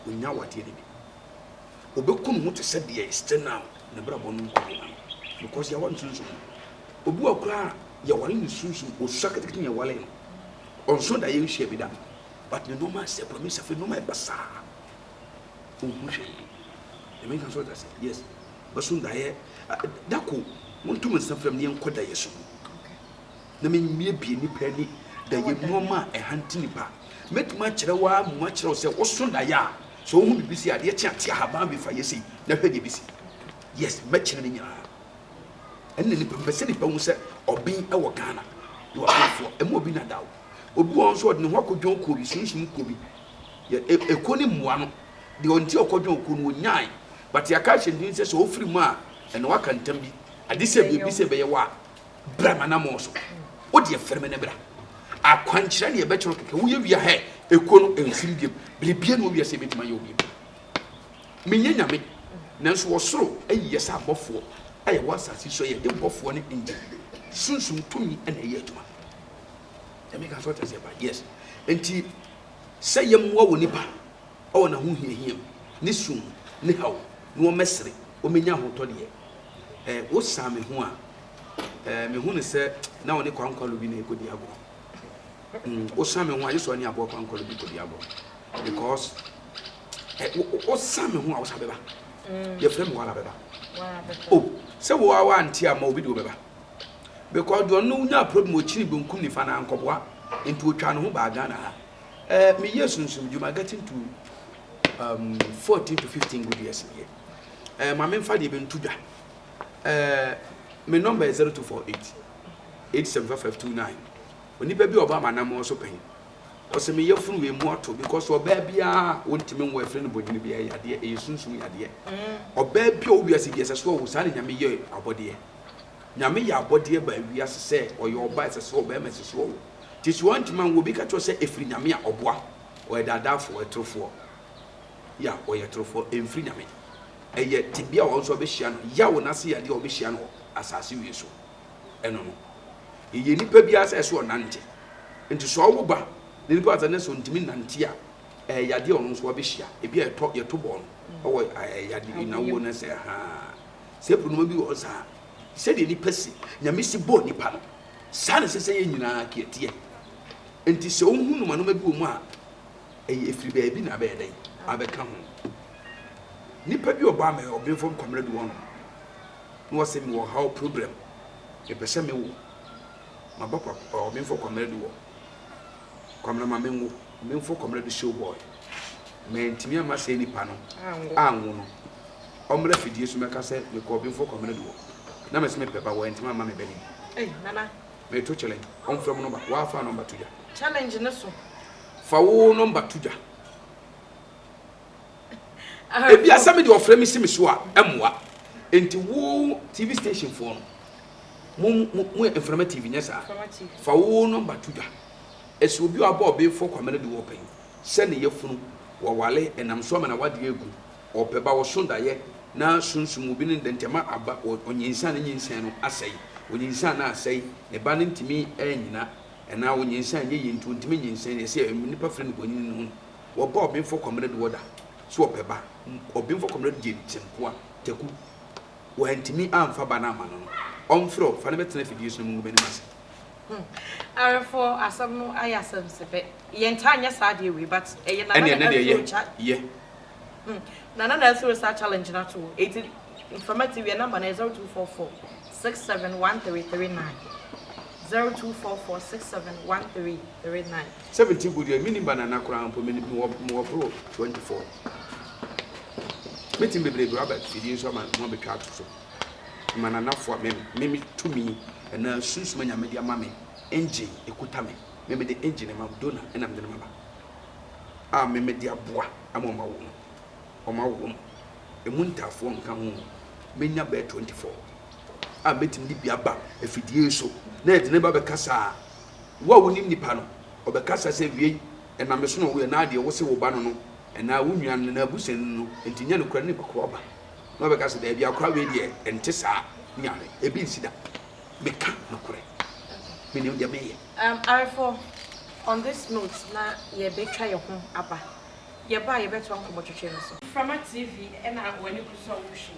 wɔnya awadeɛ ne bi ɔbɛku ne ho te sɛ deɛ still now ne brabɔ no nkɔ yɛ ma no because yɛawa no sunsum obi wɔ koraa yɛwale ne sunsum ɔsua ketekete ne yɛwale no ɔnso da yɛnhyia bi da but ne nɔɔma sɛ kura me safe nɔɔma ɛba saa ɔhu hwee ɛmɛ nka so ɔda sɛ yes bɛso daeɛ dako monto me nsa frɛ me yɛnkɔ daeɛ so mu na memmie bie nipa ani daeɛ nnoɔma a ɛhante nipa mɛtumi akyerɛ wo a mu akyerɛ wo sɛ woso daeɛ a sɛ wohu biribi sɛ adeɛ kye ate ahaban bi fa yɛ sei na hwɛ deɛ bɛsi yes mɛkyerɛ no nyinaa ɛnna nipa mpɛ sɛ nipa hu sɛ ɔben wɔ ghana na wabenfoɔ ɛma obi na da o obi wɔn nso ɔde ne ho akɔdwɔn okuo bi sunsum kuo bi yɛ e, ekuo ne mmoa no deɛ ɔnti ɔkɔdwɔn okuo no ɔnyae But yɛaka ahyɛ din sɛ sɛ ɔfiri mu a ɛna waka ntam bi. Ade sɛ biribi sɛ ɛbɛyɛ wo a, bra m'anammɔn so. Wo deɛ firi me ne bra. Akwankyerɛ na yɛbɛkyerɛ kɛkɛ. Woyɛ wie a, hɛ, ekuo no ɛnsini biom. Biribiara nni hɔ wiase a ɛbɛtumi ayɛ wo biom. Menyɛ Nyame, nanso wɔ soro ayi yɛ sɛ abɔfoɔ a yɛwɔ asase so a yɛde bɔfoɔ ne angel sunsum tumi na ɛyɛ adwuma. Nyame ka sɛ ɔte aseɛ paa. Yes. Enti sɛ yɛmmoa wɔ nipa. wɔ n'ahohiahia mu, ne sum mu, ne haw mu, na wɔbɛsere, wɔbɛnya ahotɔ deɛ. Ɛ, wosaa me ho a, ɛ, mehu no sɛ na ɔne kwankwalo bi na ɛrekɔdi agorɔ. Mm, wosaa me ho a, gye sɛ ɔne aboa kwankwalo bi kɔdi agorɔ. Because, ɛ, wo, wo, wosaa me ho a, wosa bɛba. Mm. Yɛfrɛ me wala bɛba. O, oh, sɛ wo a woante a, ma obi de wo bɛba. Because deɛ ɔno nyaa problem, ɔkyini benkum nifa na ankɔboa, nti ɔtwaa ne ho baa Ghana ha. Eh, me yɛ sunsum dwuma getting to um, 14 to 15 good years yɛ. Eh, ma memfa deɛ bɛntu dwa. Eh, me number yɛ 0248 875529. Onipa bi ɔba m'anammɔn so pɛn. Ɔsɛ me yafunu wei mu ato because ɔbaa biara wontumi nwo ɛfiri no bonyini bi ɛyɛ yadeɛ ɛyɛ sunsum yadeɛ. Mm. Ɔbaa bi a ɔwɔ wiase bi ɛsɛ so ɔwo saa na nyame yɛ abɔdeɛ. Nyame yɛ abɔdeɛ baa wiase sɛ ɔyɛ ɔba ɛsɛ so ɔbɛrima ɛsɛ so ɔwo. Nti so wɔantumi anwo obi ka kyerɛ wo sɛ ɛfiri Nyame a, ɔboa? Ɔyɛ daadaafoɔ, ɔyɛ torofoɔ. Ya, ɔyɛ torofoɔ, ɛmfiri Nyame. Ɛyɛ tebea a wɔn nso wɔbɛhyia no, yaw no ase yadeɛ a wɔbɛhyia no wɔ asase wie so. Ɛno no. Yɛyɛ nipa biara sɛ ɛsɛ ɔnante. Nti so ɔwo ba na nipa asa ne so ntumi nnante a, ɛyɛ yadeɛ a ɔno nso wabɛhyia. Ebi a yɛtɔ, yɛto bɔɔ no wɔ yade, nnawuo no sɛ, haa. Sɛ ɛpronoma bi wɔ hɔ saa. Sɛdeɛ nipa si, Nyame si bɔɔ nipa no, Saa na ɛsɛ sɛ yɛn nyinaa kea teɛ. Enti sɛ wohu nnomanoma bi wɔ mu a, ɛyɛ ɛfiri baabi na abɛyɛ dɛn? Abɛka ho. Nipa bi ɔbaa me hɔ, ɔbenfo me Kwamena du hɔ nom, na ɔse mewɔ ɔhaw, problem, mepɛ sɛ mewo. Maba kwa, ɔbenfo Kwamena du hɔ. Kwamina ma menwo menfo kwamina de show boy mantimi amma saa nipa no anwo no ɔmmra fidie so mɛka sɛ mekɔɔ benfo kwamina de wɔ na mese mepɛ ba wantimi amma me ba no bi meto challenge ɔmfrɛ mo nɔmba waa fa nɔmba to dwa challenge no so fa wo nɔmba to dwa ebi a sɛ me de ɔfrɛ me si me so a ɛmmoa nti wo tv station foɔ no mo mo mo yɛ mframa tv nyɛ saa fa wo nɔmba to dwa ɛsɛ obi a ɔbɔ ɔbeefoɔ kwame no de wɔ pɛn sɛ ne yɛfunu wɔwale ɛnam so ama na wadeɛ agu ɔpɛ ba wɔso dayɛ na sunsum obi ne ntɛntɛma aba ɔnyinsan ne nyinsan no asɛe ɔnyinsan no asɛe ne ba no ntumi ɛnyina ɛnaa ɔnyinsan nyɛ yie nti ɔntumi nyinsan yɛ sɛ nnipa firi no bɔnyini no ho Wɔba ɔbenfo Kwamina bi hɔ da so ɔpɛ ba. Ɔbenfo Kwamina gyee no kyɛmpoa, Taku. Wɔantumi amfa ba no amma no no, ɔmfrɛ wo, fa no bɛtena afidie so na mongu m'anim ase. Hmm. Awefoɔ, asɛm no ayɛ asɛm sɛpɛ. Yɛntaa nyɛ saa adeɛ wei, but ɛyɛ nana na ɛsoro kya. Yɛ. Hmm. Nana na ɛsoro saa challenge no ato wo. Eti, mframa ti wiɛ namba no yɛ 0244 671339. 0244 671339. 17 gu deɛ menni banana koraa mpo me mewɔ mewɔ boro 24 mɛtumi bebree bi waba fidie nso ama mo abɛtwa ato so ma nanafoɔ a me me me tumi ɛna sunsum a nyame de ama me engine ɛkuta me me me de engine ama dona ɛna me de ma ba a me me de aboa ama ɔma wɔ mu ɔma wɔ mu ɛmu ntaafoɔ nka ho mɛnya bɛɛ 24 a mɛtumi de bi aba afidie so na ɛde ne ba bɛkasa a Wo a wonim nipa no, ɔbɛkasa sɛ, Wiei, ɛnam me so na ɔwui, anaa deɛ wose wo ba no no, anaa wo nua no, anaa abusuani no no, enti nyɛ nokorɛ ne kɔkɔɔ aba. Na wɔbɛka sɛ, Daabi, akora wei deɛ, ɛnte saa, Nyame, ebi nsi da. Meka nokorɛ. Menim deɛ meyɛ. Um, awefoɔ, on this note na yɛbɛtwa yɛn ho aba. Yɛba a, yɛbɛtoa nkɔmmɔtwetwe no so. Mframa TV na w'ani gu so a wohwɛ yi.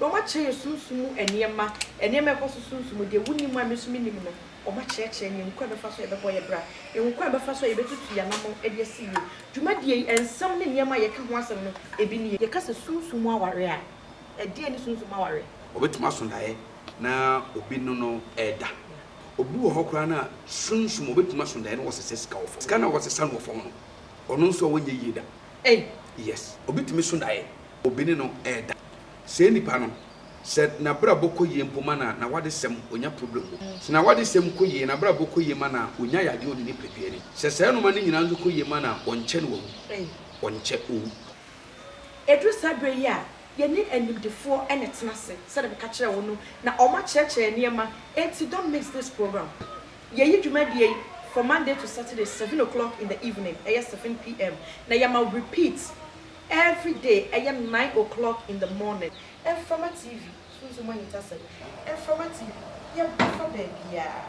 Na wɔakyerɛ yɛn sunsum mu nneɛma, nneɛma a ɛkɔ so sunsum mu, deɛ wonim a me nso mennim no, wɔakyerɛkyerɛ yɛn kwan a yɛbɛfa so a yɛbɛbɔ yɛn bra, kwan a yɛbɛfa so a yɛbɛtutu yɛn anammɔn de asi yie. Dwumadie yi, nsɛm ne nneɛma a yɛka ho asɛm no, ebi nie. Yɛka sɛ sunsum mu aware a, ɛdeɛn ne sunsum mu aware? Ɔbɛtumi aso daeɛ na obi ne no reda. Obi wɔ hɔ koraa no a, sunsum, ɔbɛtumi aso daeɛ na wasesa sika wɔ fam. Sika no a wasesa no wɔ fam no, ɔno nso a ɔnyɛ yie da. Ei! Yes, obi tumi so daeɛ obi ne no reda. Sɛɛ nipa no, sɛ nabrabɔ kɔ yie mpo ma no a, nawadesɛm onya problem wɔ mu. Sɛ nawadesɛm kɔ yie, nabrabɔ kɔ yie ma no a, onya yadeɛ ɔne nipadua ni. Sɛ saa nnoɔma no nyinaa nso kɔ yie ma no a, ɔnkyɛ na wawu. Ɔnkyɛ ɔwu. Ɛduru saa berɛ yi a, yɛne animdefoɔ na ɛtena ase, sɛdeɛ meka kyerɛɛ wo no, na wɔakyerɛkyerɛ yɛn nneɛma, enti don't miss this program. Yɛyi dwumadie yi from Monday to Saturday, seven o'clock in the evening, ɛyɛ seven PM, na yɛma repeat Everyday ɛyɛ nine o'clock in the morning. Mframa TV, Sunsum Ahintasɛm, Mframa TV, yɛba fa baabiara.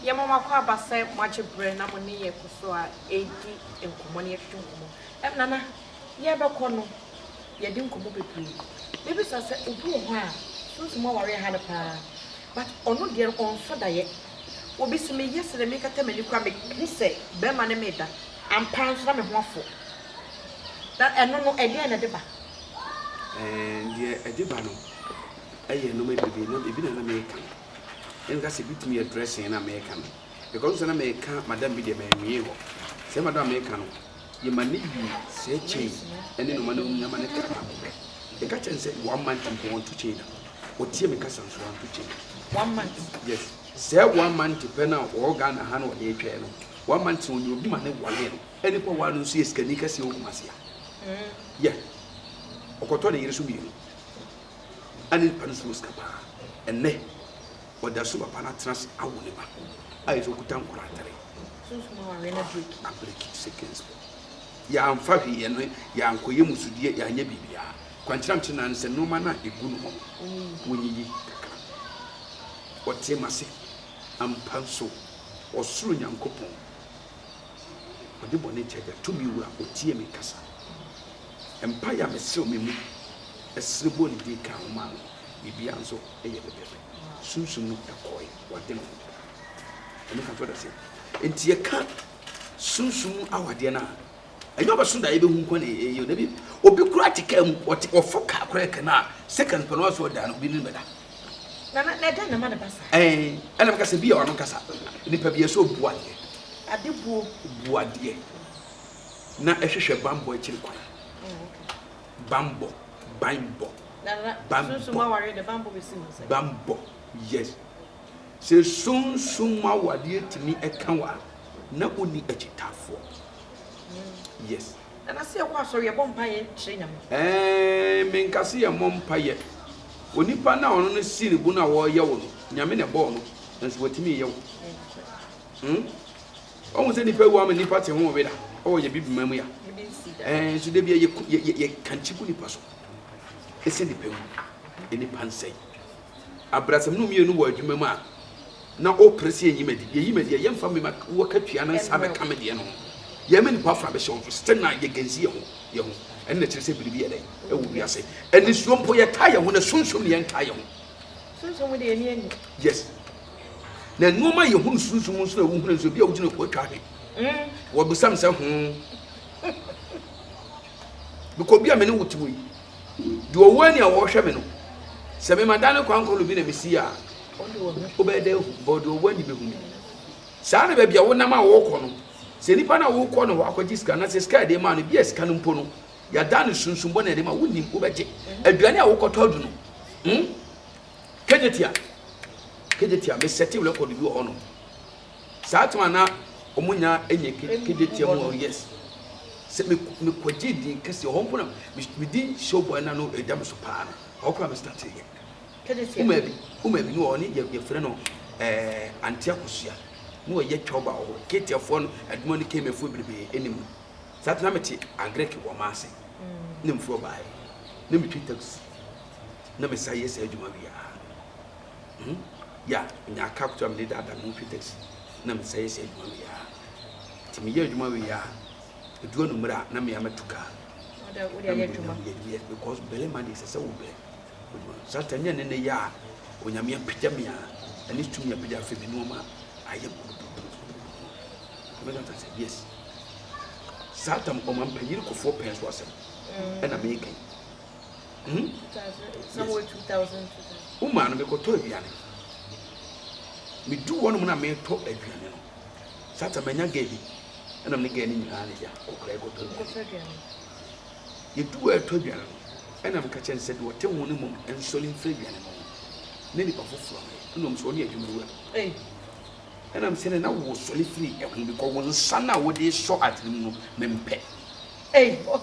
Yɛma mo akwaaba sɛ moagye berɛ na mo ne yɛn kɔ so a ɛredi nkɔmmɔ na yɛtwetwe nkɔmmɔ. Ɛm Nana, yɛrebɛkɔ no, yɛadi nkɔmmɔ bebree. Mɛbisa sɛ obi wɔ hɔ a Sunsum awareɛ ha no paa but ɔno deɛ no ɔnsɔ daeɛ. Obi se meyɛ sene mekata m'ani koraa me hu sɛ bɛɛma ne me da ampa ara nso na me ho afɔ na ɛno no ɛdeɛn na ɛde ba? Ɛɛn deɛ ɛde ba no ɛyɛ nnoɔma bebree na ebi na na meka no na meka sɛ ebitumi yɛ dressing na meka no because sɛ na meka madam bi deɛ manwie hɔ sɛ madam a meka no yɛma no wie sɛɛ chain ne nnoɔma no nyinaa ma no kaa baako pɛ. Meka kyerɛ no sɛ one month mpo ɔnto chain da. Ɔtie me kasa nso wanto chain. One month? Yes. Sɛɛ one month pɛ no a ɔwɔ Ghana ha na ɔde retwɛn no. One month no ɔnya obi ma no walee no. Ɛne kɔ waa no nso yɛ sikani kɛseɛ wɔ Kumasi ha. Yɛ. Ɔkɔtɔ ne yere so mmienu. Ɛne nipa no so wɔ sika paa. Ɛnnɛ Ɔda so papa no atena ase awo ne ba. Ayɛ sɛ ɔkuta nkwadaa atare. Sunsum awareɛ no abreki. Abreki seconds mu. Yɛamfa hwee, yɛn yɛankɔyɛ musudeɛ, yɛanyɛ biribiara. Kwankyerɛ a mekyerɛ no ara ne sɛ nnoɔma no a ɛgu no hɔ no, wonyiyi kakra. Ɔtee m'ase. Ampa nso, Ɔsoro Nyankopɔn, Ɔde bɔne kyɛ agya, tumi wura, Ɔtie me kasa. Mpaeɛ a mesrɛ wɔ me mu, ɛserɛ bɔ ne din ka ho maa no. biribiara nso yɛ pɛpɛɛpɛ. Sunsum no kɔe w'adwene ho. Ɛno ka kyerɛ dɔteɛ. Nti yɛka sunsum mu awadeɛ no a, ɛnyɛ ɔbɛso da yɛbɛhu nkwa na ɛyɛ da bi. Obi kura te kaa mu, ɔte ɔfo kaa kura ɛkɛ no a, seconds pɛ no ɔso ɔda no, obi ne no bɛda. Na na na ɛdɛn na ɛma no ba saa? Ɛn, ɛna meka sɛ bi yɛ ɔno kasa. Nipa bi yɛ sɛ obu adeɛ. Adebuo. Bu adeɛ. Na ɛhwehwɛ bammɔ akyiri kwan. Oh, okay. Banbɔ, banbɔ, banbɔ, banbɔ, yes. Sɛ sunsum mu awadeɛ tumi ɛka wo a, na wonni akyitaafoɔ. Yes. Nana sɛ yɛkɔ asɔre yɛbɔ mpaeɛ kyerɛ Nyame. Ɛɛn, menka sɛ yɛmmɔ mpaeɛ. Onipa no a ɔno no sii ne bo no a ɔreyɛ wo no, Nyame na ɛbɔɔ no, nanso watumi reyɛ wo. Hmm? Ɔhu sɛ nipa wu ama nipa te ho weda. Ɔwɔ yɛ bibi ma mu ya. Ɛɛ nso debia yɛ yɛ yɛ kankye gu nipa so. Ese nipa wu. E nipa nsɛe. Abrasam no mmienu wɔ adwuma mu a na ɔpere se yɛnyi madi. Yɛyi madi a yɛmfa me ma wɔ katua no nsa bɛka me deɛ no ho. Yɛma nipa fra bɛhyɛ wɔn so. Still na yɛ gansi yɛ ho yɛ ho. Ɛno na ɛkyerɛ sɛ biribi yɛ dɛn ɛwɔ wiase. Anisuo mpo yɛtaa yɛ ho na sunsum na yɛntaa yɛ ho. Sunsum deɛ ani ani. Yes. Na nnoɔma yɛ hunu sunsum mu nso na wohunu nso, ebi a wogyina po atwa ahwe. Mm, wɔbisa me sɛ ho. Bikɔ obi a me ne wo te wɔ yi, deɛ ɔwɔ ani a wɔrehwɛ me no, sɛ mema dan no kwan kɔno bi na mesi a, wobɛyɛ dɛ ahu, bɔ deɛ ɔwɔ ani bɛhu me. Saa na baabi a wonam a wɔrekɔ no, sɛ nipa no a wokɔ no hɔ akɔgye sika na sɛ sika yɛde maa no bi a sika no mpo no yɛadan no sunsum bɔne yɛde ma wonim wobɛgye aduane a wokɔtɔ adu no hmm? Kejetia kejetia me setting record bi wɔ hɔ nom saa time a na ɔmo nya ɛnyɛ kejetia mu ɔno yes sɛ me me kɔgye din kɛse ɔhɔ mpo na me di show boy na no ɛda me so paa no ɔhɔ kora me start yɛ kejetia uma bi uma bi no wɔ ɔne yɛ yɛfrɛ no ɛɛ antia kosua na ɔyɛ twɛba wɔ hɔ ketiafoɔ no adwuma no kɛmɛfoɔ bebrebe ɛnim no saa tena me te agrek wɔ maase na mfiri ɔbaeɛ na me twi taxi na me san yɛ saa adwuma wie a hmm ya nya aka akoto a mede daadaa me ho fi taxi na me san yɛ saa adwuma wie a nti meyɛ adwuma wie a edu anumere a na mea mɛto kaa because bɛlɛ ma deɛ ɛsɛ sɛ wobɛ sata nyɛ ne ne yɛ a onyame apagya me a ɛne tumi apagya afɛ bi nnoɔma ayɛ mɛka sɛ yes saa tam ɔma mpanyini kɔfoɔ pɛn so asɛm ɛna meka yi Hmm? Somewhere 2000 2000. Wo maa no mekɔtɔ aduane. Medu hɔnom na metɔ aduane no. Sata manya gɛɛ bi. Ɛna me ne gɛɛ no nyinaa ne ya kɔkora yɛ kɔtɔ aduane. Yɛdu hɔ ɛtɔ aduane no. Ɛna meka kyɛn sɛ deɛ ɔte ho no mmom nsɔre mfiri aduane no ho. Ne nipa foforɔ no yɛ. Ɛna ɔm sɛ ɔne adwuma wura. Ɛna m sɛ ne na wo sɔre firi ɛho bi kɔ wo nsa no a wode sɔ ade no mu no mempɛ. Hey, oh.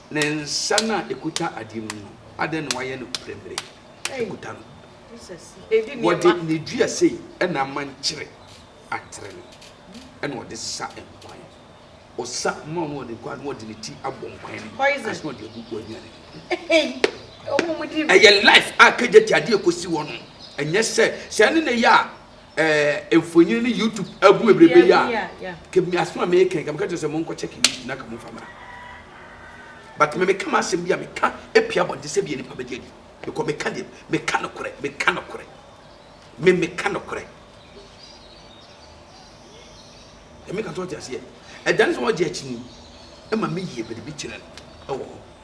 Ne nsa no a ɛkuta adeɛ mu no, adɛn na wayɛ no prɛmire kuta no? Wɔde ne dua sei na ama nkyere atere no, ɛna ɔde sa nkwan. Ɔsa ma ɔno ɔde nkwan no ɔde ne ti abɔ nkwan no ase na ɔde agu w'anua no ɛyɛ life a kagya ti adeɛ kɔsi hɔ no ɛnyɛ sɛ sɛ ɛne ne yɛ a eh, mfonyin ne YouTube agu bebrebe yi a, kemi aso a meka nka meka kyerɛ sɛ monkɔ check YouTube na ka momfa mmra. But me meka m'asɛm bi a meka epia abɔnten sɛ deɛ nipa bɛgye adi. Because meka deɛ meka nokorɛ, meka nokorɛ. Me meka nokorɛ. Ɛmeka sɛ ɔte aseɛ. Ɛdane sɛ ɔgye akyini ma meyie biribi kyerɛ no ɛwɔ hɔ.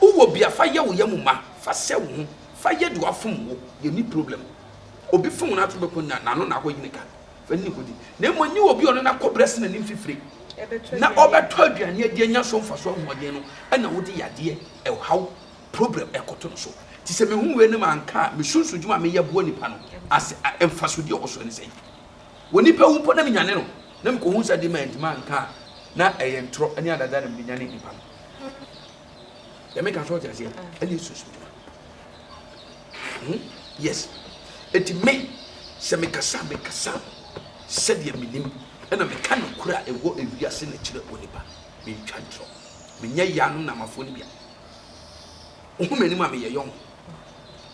Wo wɔ bia fa yɛ wo yɛ mu ma fa sɛ wo ho fa yɛ deɛ wafom wo yɛ ni problem obi fom no ato bɛkɔ nya na ano na akɔ yi ne ka fa ni kɔ di na mmɔ nye obi ɔno na kɔ brɛ se na nim fifire na ɔbɛtɔ aduane adi anya so mfa so ahoɔden no ɛna wo de yadeɛ ɛwhaw problem ɛkɔ to no so ti sɛ me hu wei no ma nka a me sunsu dwuma me yɛ boa nipa no ase a mfa so deɛ ɔwɔ so ɛne sɛn wɔ nipa wu mpo na me nyane no na me kɔ hu sɛ de ma ntoma nka a na ɛyɛ ntorɔ ɛne adada na me de nyane nipa no. yɛmɛ ka sɛ ɔte aseɛ ɛne yesusu dwuma hmm? yes ɛti me sɛ mekasa mekasa sɛdeɛ menim ɛna meka nokorɛ a ɛwɔ ewiase na kyerɛ onipa mentwa ntorɔ menyɛ yɛ ano namafoɔ no bia wohu m'anim a meyɛ yɔn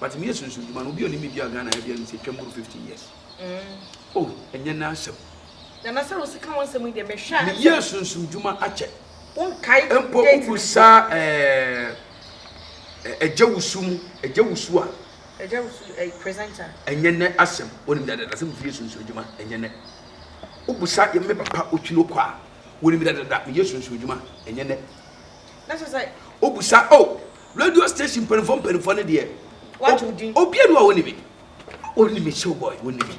but meyɛ sunsun dwuma no obi ɔnim me bia ghana ɛbia no sɛ twam boro 15 years mm. oh ɛnyɛ n'asɛm nana sɛ wo sika ho asɛm yi deɛ mehwɛ a meyɛ sunsun dwuma akyɛ Mpo wobu saa ɛɛ ɛgya wusu mu ɛgya wusu a. Ɛgya wusu ɛyɛ eh, presenter. Ɛnyɛ nɛ asɛm wɔnim dada dada asɛm fie sunsun adwuma ɛnyɛ nɛ. Wobu saa yɛ me papa otwi no kɔ a wɔnim dada dada me yɛ sunsun adwuma ɛnyɛ nɛ. Na sɛ sɛ. Wobu saa oh radio station mpanimfoɔ mpanimfoɔ ne deɛ. Wagye odin. Obiara ni a wɔnim me wɔnim me show boy wɔnim me.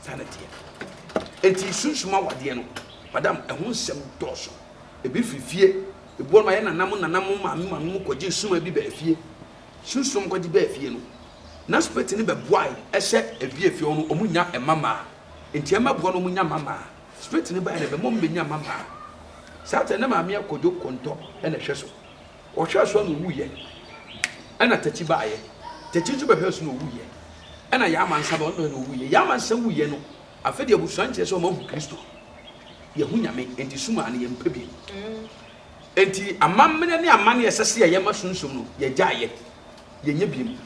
Saa na ɛteɛ. Enti sunsum awadeɛ no, madam, ɛho nsɛm dɔɔso. Ebi firi fie. Ebi wɔ hɔ no, ayɛ nana mo nana mo maame maame mo kɔgye nsuma bi baa fie. Sunsum a wɔkɔgye baa fie no, na spirit no bɛboae sɛ ebi efie hɔ no, wɔnya mma mmaa. Enti ɛmmɛboa na wɔnya mma mmaa. Spirit no bae na ɛbɛma wɔbɛnya mma mmaa. Saa tɛ na maame akɔdwo kɔntɔ na ɛhwɛ so. Ɔhwɛɛ so a na ɔwuiɛ, ɛna Takyi baeɛ. Takyi nso bɛhwɛɛ so na ɔwuiɛ, ɛna yɛn amansa bɛhwɛɛ so na ɔwuiɛ. Yɛn amansa wuiɛ no, afei deɛ abusua nkyerɛ sɛ wɔahu Kristo. Yɛahu Nyame, enti sum a na yɛmpɛ bio. Enti amammerɛ ne amanneɛ a ɛsɛ sɛ yɛyɛ ma Sunsum no, yɛgyaeɛ. Yɛnyɛ bio.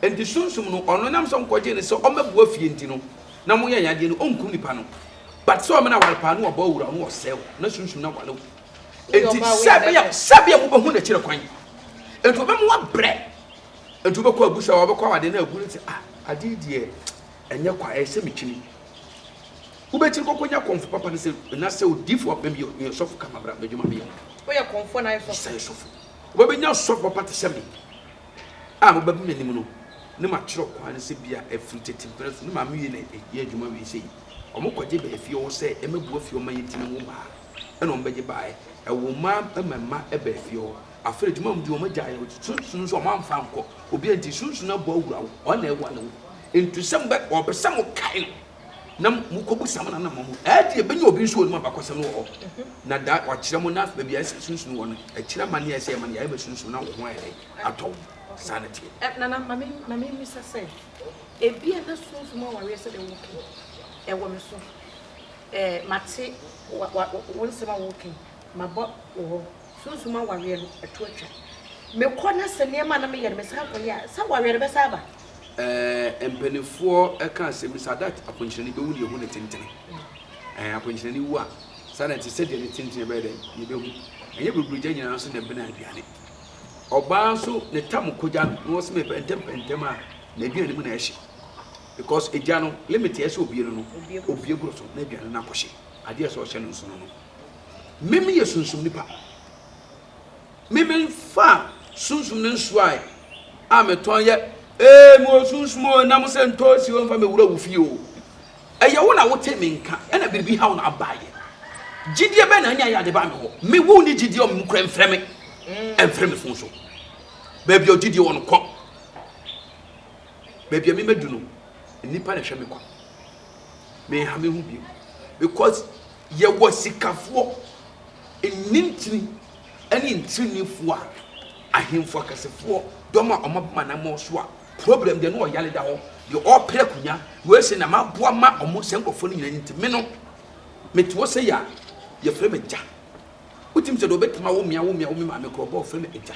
Enti Sunsum no, ɔno nam sɛ wɔkɔgyee no sɛ ɔmmɛboa fie nti no, na wɔyɛ yɛn adeɛ no, ɔnkum nipa no. But sɛ ɔmena ware paa na ɔbɔ awura wo na ɔsɛe wo, na Sunsum no aware wo. Enti sɛbea sɛbea wobɛhu n'akyire kwan. Enti wobɛma wabrɛ. Enti wobɛkɔ agu sɛ wabɛkɔ awade na agu no sɛ ah ade yi deɛ ɛnyɛ kwa ɛyɛ sɛ metwini. Wobɛkyiri kɔkɔ nya kɔmfo papa no sɛ na sɛ odiifo apɛ bi yɛ sɔfo ka mabra m'adwuma meyɛ. Woyɛ kɔmfo na ayɛ sɔfo. Sɛ sɔfo. Wobɛbɛnya sɔfo papa te sɛ me a mobɛba m'anim no ne makyerɛ kwan no sɛ bia ɛfiri tete mprɛ so ne maame wie na ɛyɛ adwuma wie sɛ yi. Wɔkɔgye baafi ɔwɔ sɛ ɛmɛboa fie ɔma yɛntumi nwo mmaa. na wɔn bɛgye baeɛ. Ɛwɔ mmaa ɛma mma ɛba efie hɔ. Afei adwuma wɔn di wɔn agya yɛ wɔn sunsun nso wɔn anfa nkɔ obi a nti sunsun abɔ awura wo wɔn na ɛwa no nti sɛ mo bɛ wɔpɛ sɛ mo kae no na mo kɔ bu sam na nam mo ɛdi ebɛnya obi nso wɔ nimu abakɔsɛm no wɔ hɔ na da wɔakyerɛ mo na baabi a ɛsɛ sunsun wɔ no ɛkyerɛ ma ne ɛsɛ ɛma ne yɛ ɛma sunsun na wɔn ho ayɛ dɛ atɔ wɔn saa na teɛ. Eh, nana mami mami misa sɛ ebi a na sunsun mu awareɛ sɛ deɛ wɔkɛ ɛwɔ me so. Eh, mate wa, wa, wo nsɛm a woka yi, mabɔ wo hɔ. Sunsum awareɛ no, ɛto atwa. Mekɔ na sɛ nneɛma a na meyɛ no mesan kɔyɛ a, sɛ awareɛ no bɛsan aba? Eh, mpaninfoɔ ka sɛ Miss Adat akwankyerɛni bɛwu na yɛhu ne tentene. Eh, akwankyerɛni wu a, saa na ɛte, sɛdeɛ ne tentene bɛyɛ dɛn, yɛbɛhu. Ɛnyɛ buruburu-gya nyinaa nso na ɛbene aduane. Ɔbaa nso, ne tam kɔgya no, na wɔse mepɛntɛmpɛntɛm a, n'aduane mu na ɛhye. Because egya no limit a ɛsɛ obue no no obue boro so na aduane no akɔhye adeɛ a ɛsɛ ɔhyɛ no nsono no. Me me yɛ sunsum nipa. Me me fa sunsum no nsuo a a me tɔn yɛ ee mo sunsum o nam sɛ ntoosi o nfa me wura wo fie o. Ɛyɛ wo na wote me nka ɛna biribi ha wo na aba ayɛ. Gyidie bɛn na anya ayɛ ade ba me hɔ me wo ni gyidie ɔmo kura mfrɛ me ɛmfrɛ me fon so. Baabi a gyidie wɔ no kɔ. baabi a memadu no nnipa na ɛhwɛ me kwan menha me ho bio because yɛwɔ sikafoɔ nnintini ne ntirinifoɔ a ahemfo akɛsefoɔ dɔm a wɔn aboma na wɔn so a problem deɛ no ɔyale da hɔ deɛ ɔpere akunya wei sɛ na maboa ma wɔn sɛ nkurɔfoɔ no nyinaa nti me no mete hɔ sɛ yɛ a yɛfrɛ me gya wotim sɛ deɛ ɔbɛtumi awo mmea wo mmea wo me maame korɔ bɔ ɔfrɛ me agya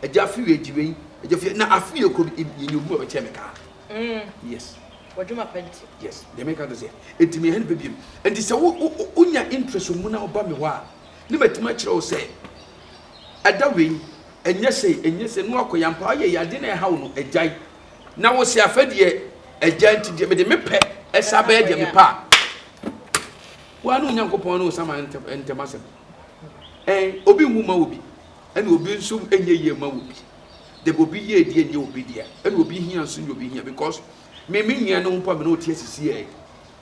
Agya afi wei gye wei, agya fi na afi yɛ kuro bi yɛ nyɛ obi wɔ bɛkyɛ me kaa. Mm. Yes. Wadwuma pa nti. Yes. Deɛ meka no sɛ ɛti meyɛ ne pɛ biom. Nti sɛ wonya interest mu na woba me hɔ a ne matumi akyerɛ wo sɛ ɛda wei ɛnyɛ sɛ ɛnyɛ sɛ no akɔ yampa ayɛ yɛ ade na ɛha wo no agyae na wo sɛ afɛ deɛ agya nti deɛ mede mepɛ ɛsa bɛyɛ deɛ mepɛ a woa ne onyankopɔn ne wo saman ntɛm asɛm ɛn obi nwu ma obi ɛna obi nso ɛnyɛ yie ma obi dɛbi obi yie deɛ nyɛ obi deɛ ɛna obi hia nso nyɛ obi hia because me me nua ne ho mpo a me ne ɔte asisi yɛ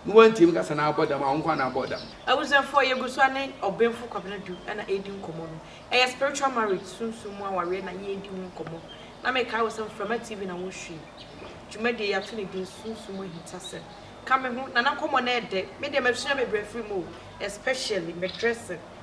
ne wantie me kasa na abɔ dam a wo nkwa na abɔ dam. Abusuafoɔ yɛgu so ne Ɔbenfo Kwabena Du na ɛredi nkɔmmɔ no. Ɛyɛ Spiritual Marriage, Sunsum mu Awareɛ, na yɛredi ho nkɔmmɔ. Na mekae wo sɛ Mframa TV na wohwie dwumadie yi ato ne din Sunsum mu Ahintasɛm. Ka me ho, na na nkɔmmɔ no yɛ dɛ. Me deɛ masua bebree afiri mu o, especially me dressing.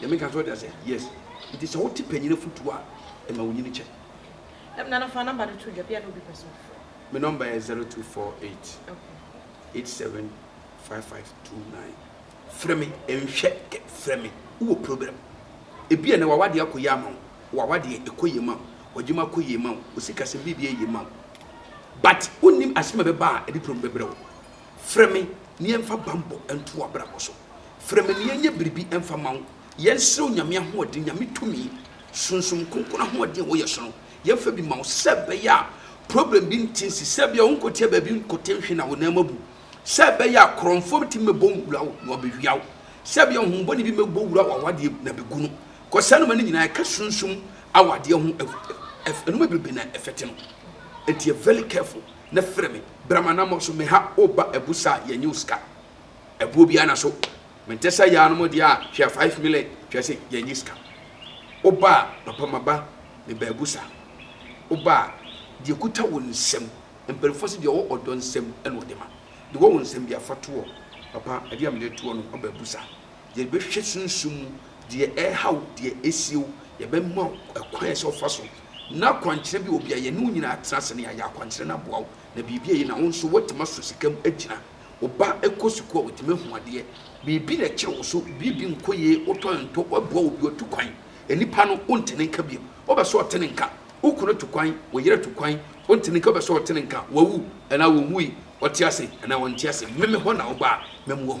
Deɛ meka kyerɛ wo deɛ sɛ yes. Nti sɛ wote panyin afotuo a, ɛma wo nyini kyɛ. Nam Nana fa number no to dwa bia na obi pɛ sɛ ɔfrɛ. Me number yɛ zero two four eight Okay. eight seven five five two nine. Frɛ me nhwɛ kɛ frɛ me wowɔ problem. Ebi a ɛnɛ wawadeɛ akɔ yie ama wo, wawadeɛ ɛkɔ yie ma wo, wadwuma akɔ yie ma wo, osikasɛm biribi ayɛ yie ma wo but wonnim asɛm a ɛbɛba a ɛde problem bɛbrɛ wo. Frɛ me na yɛmfa bammɔ nto w'abrabɔ so. Frɛ me na yɛnyɛ biribi mfa mma wo. Yɛnsrɛ Onyame ahoɔden, Nyame tumi, Sunsum Kronkron ahoɔden a ɛwɔ yɛn so no, yɛmfa bi mma wo sɛ ɛbɛyɛ a problem bi nte nsi, sɛ ɛbɛyɛ a wonkɔtia baabi nkɔte nhwe na wo nan mu abu, sɛ ɛbɛyɛ a korɔmfoɔ betumi bɛbɔ wura wo na wɔabɛwia wo, sɛ ɛbɛyɛ a honhom bɔne bi bɛbɔ wura w'awadeɛ mu na bɛgu no. Kɔ saa nnoɔma no nyinaa, ɛka sunsum awadeɛ ho nnoɔma bebrebe na ɛfɛte no. Nti yɛ very careful. na frɛ me bra m'anamɔ so meha wo ba abu sa a yɛnye wo sika abuo bia na so mente sɛ yaa no mo deɛ a hwɛ 5 mile kyerɛ sɛ yɛnye sika wo ba a papa maba me ba abu sa wo ba a deɛ kuta wo nsam mpanimfoɔ se deɛ ɔwɔ ɔdɔ nsam ɛna ɔde ma deɛ ɔwɔ wo nsam bia fa toɔ papa ɛdeɛ a mede toɔ no ɔba abu sa yɛbɛhwɛ sunsum mu deɛ ɛreha wo, deɛ ɛresie wo, yɛbɛma wo ɛkwan a ɛsɛ sɛ wofa so, na akwankyerɛ bi wɔ baabi a yɛne wo nyinaa atena ase na yɛayɛ akwankyerɛ no aboa wo, na biribi ayi na wo nso woatumi aso sika mu agyina. Wo ba kɔ sukuu a, watumi ahu adeɛ, biribi na ɛkyere wo so, biribi nkɔ yie, wotɔ ntɔ, woaboa obi, watu kwan, nnipa no wonte ne nka bio, wobɛ sɛ ɔte ne nka, wo kunu atu kwan, wo yere atu kwan, wonte ne nka, wobɛ sɛ ɔte ne nka, wawu anaa ɔwui, ɔte ase anaa ɔnte ase, me me hɔ na woba a, mɛma woahu.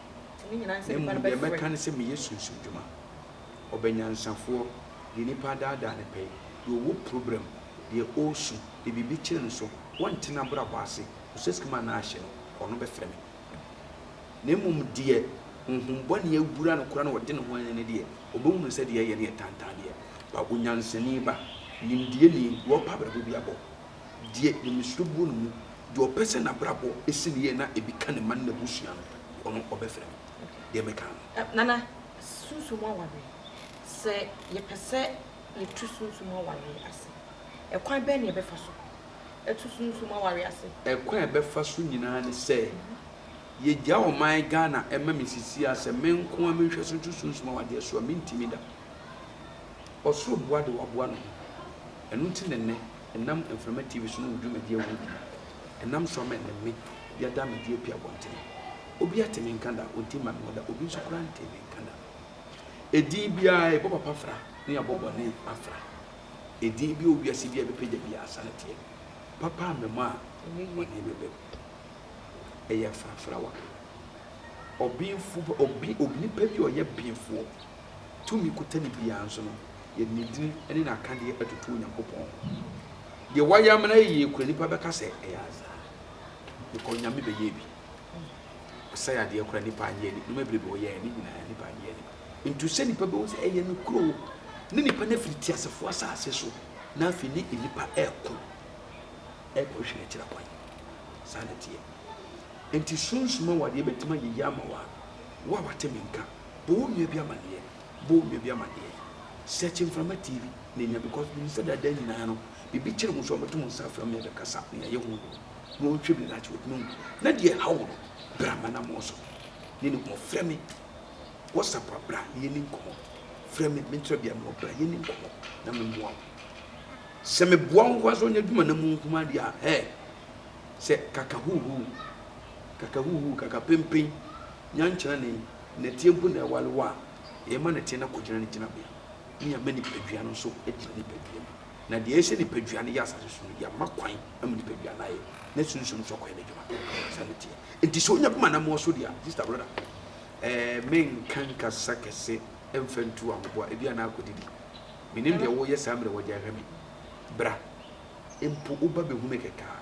Na mmom deɛ mɛka ne sɛ meyɛ sunsum dwuma. Ɔbɛnyansafoɔ, deɛ nipa adaadaa ne pɛyɛ, deɛ ɔwɔ problem, deɛ ɔresu, deɛ biribi kyere no so, ɔnte n'abrabɔ ase, ɔsɛ sika mu anaa ahye no, ɔno bɛfrɛ me. Na mmom deɛ honhom bɔne awura no koraa na ɔde ne ho ayɛ no deɛ, ɔbɛhunu sɛ deɛ ɛyɛ no yɛ tantan deɛ, ba onyansani ba, nimdeɛni, wɔpa abrabɔ bi abɔ, Deɛ Nyamesuro buo no mu, deɛ ɔpɛ sɛ n'abrabɔ si no yie na ebi ka ne mma ne n'abusua no, ɔno ɔbɛfrɛ me. Deɛ meka no. Nana, sunsum mu awareɛ, sɛ yɛpɛ sɛ yɛtu sunsum mu awareɛ ase, ɛkwan bɛn na yɛbɛfa so atu sunsum mu awareɛ ase? Ɛkwan a yɛbɛfa so nyinaa ne sɛ, yɛgya ɔman Ghana ma me sisi a, sɛ me nko ara menhwɛ so nto sunsum mu awadeɛ so a, mentumi da. Ɔsoro boa deɛ waboa ne ho. Ɛno nti na nnɛ ɛnam mframa TV so ne wo dwumadi ahorow bi mu, ɛnam so ama ɛne me yɛada me de api abɔnten. Obi ate me nka da, onte mma me ho da, obi nso koraa ntee me nka da. Edin biara, yɛbɔ papa fra na yɛabɔ bɔne afra. Edin bi wɔ wiase biara bɛpagya biara asa no teɛ. Papa amma mu a, bɔne bɛba mu. Ɛyɛ frafrawa. Ɔbenfo, obi, onipa bi a ɔyɛ benfoɔ. tumi kotane biara nso no, yɛde ne din ne n'akadeɛ atoto Onyankopɔn ho. Deɛ wayɛ ama no ayɛ yie koraa, nnipa bɛka sɛ, Ɛyɛ Asa. Meka onyame bɛyɛɛ bi. Ɔsɛe adeɛ koraa, nnipa annye anni. Nneɛma bebrebe a ɔyɛeɛ no nyinaa, nnipa annye anni. Ntu sɛ nnipa bɛhu sɛ ɛyɛ ne kuro, ne nnipa no afiri teasefoɔ asase so, na afei ne nnipa reko rekɔhwehwɛ n'akyira kwan. Saa na ɛteɛ. Enti sunsum awadeɛ bɛtumi ayɛ yie ama wo a, wo a wate me nka. Bɔ wo nua bi amaneɛ, bɔ wo nua bi amaneɛ. Search Mframa TV na anya because menim sɛ daadaa nyinaa no biribi kyere mo nso a mɛto mo nsa afrɛ mo yɛbɛkasa na yɛayɛ ho adwuma na wɔnhwɛ bi na daakye wɔatumi ahu na deɛ ɛha wo no bra m'anammɔn so ne ne nkɔmmɔ. Frɛ me WhatsApp a bra na yɛnni nkɔmmɔ. Frɛ me me nkyerɛbea mewɔ bra yɛnni nkɔmmɔ na memmoa wo. Sɛ meboa wo nko ara sɛ ɔnyɛ adwuma na mu nko ara deɛ a hɛɛ sɛ kaka huuhuu kaka huuhuu kaka pempen Nyankyerɛ ne nnɛteɛ gu na ɛware wɔ a, yɛma nnɛteɛ no akɔgyina ne gyinabea, na yɛama nipadua no nso agyina nipadua mu. Na deɛ ɛyɛ sɛ nipadua no yɛ asase so no, yɛama kwan ama nipadua no ayɛ, na sunsum nso akɔyɛ n'adwuma sɛ nnɛteɛ. Enti sɛ ɔnya gu m'anammɔn so deɛ a, sista brɔda, ɛɛ, menka nkasa kɛse mfa ntu ahoboa, ebia na akɔdidi. Menim deɛ woreyɛ saa mmerɛ wagyae hwɛ me. Bra mpo, woba bɛhu me kɛkɛ a,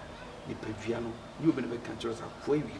nipadua no ne obi na bɛka akyerɛ wo sɛ akoa awie.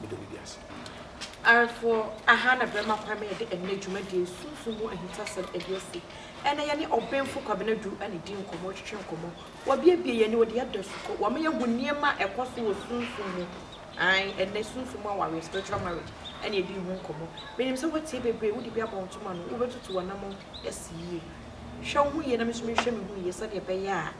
Meda biribi ase. Arefoɔ, Aha na Barima Kwame rede ɛnnɛ dwumadie Sunsum mu Ahintasɛm adi asi. Ɛnnɛ yɛne Ɔbenfo Kwabena Duru anidi nkɔmmɔ, retwetwe nkɔmmɔ. Wabiabie yɛn ani, ɔde yɛn ada sukɔ. Wama yɛahu nneɛma a ɛkɔ so wɔ sunsum mu. Aane, ɛnnɛ sunsum mu awareɛ, spiritual marriage, ɛna yɛdii ho nkɔmmɔ. Menim sɛ woatie bebree, wode bi abɔ ntoma no, wobɛtutu w'anammɔn asi yie. Hwɛ wo ho yie na me nso menhwɛ me ho yie sɛdeɛ ɛbɛyɛ a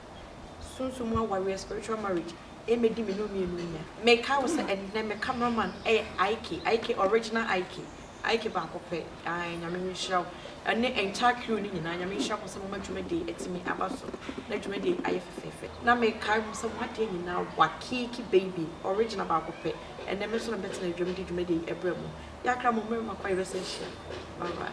sunsum mu awareɛ, spiritual marriage, Ɛmmɛdi me ne wo mmienu nya. Mekae wo sɛ ɛnnɛ me camera man yɛ Ike, Ike, original Ike, Ike baako pɛ, ae, Nyame nhyira wo, ɛne entire crew no nyinaa, Nyame nhyira mo sɛ moma dwumadie yi atumi aba so, na dwumadie yi ayɛ fɛfɛɛfɛ. Na mekae mo sɛ mo adeɛ nyinaa work, Ike baby, original baako pɛ, ɛnnɛ me nso na mɛtena adwam de dwumadie yi ɛbrɛ mo. Yɛakra mo mmerɛ makɔ yɛbɛsan hyia, bye bye.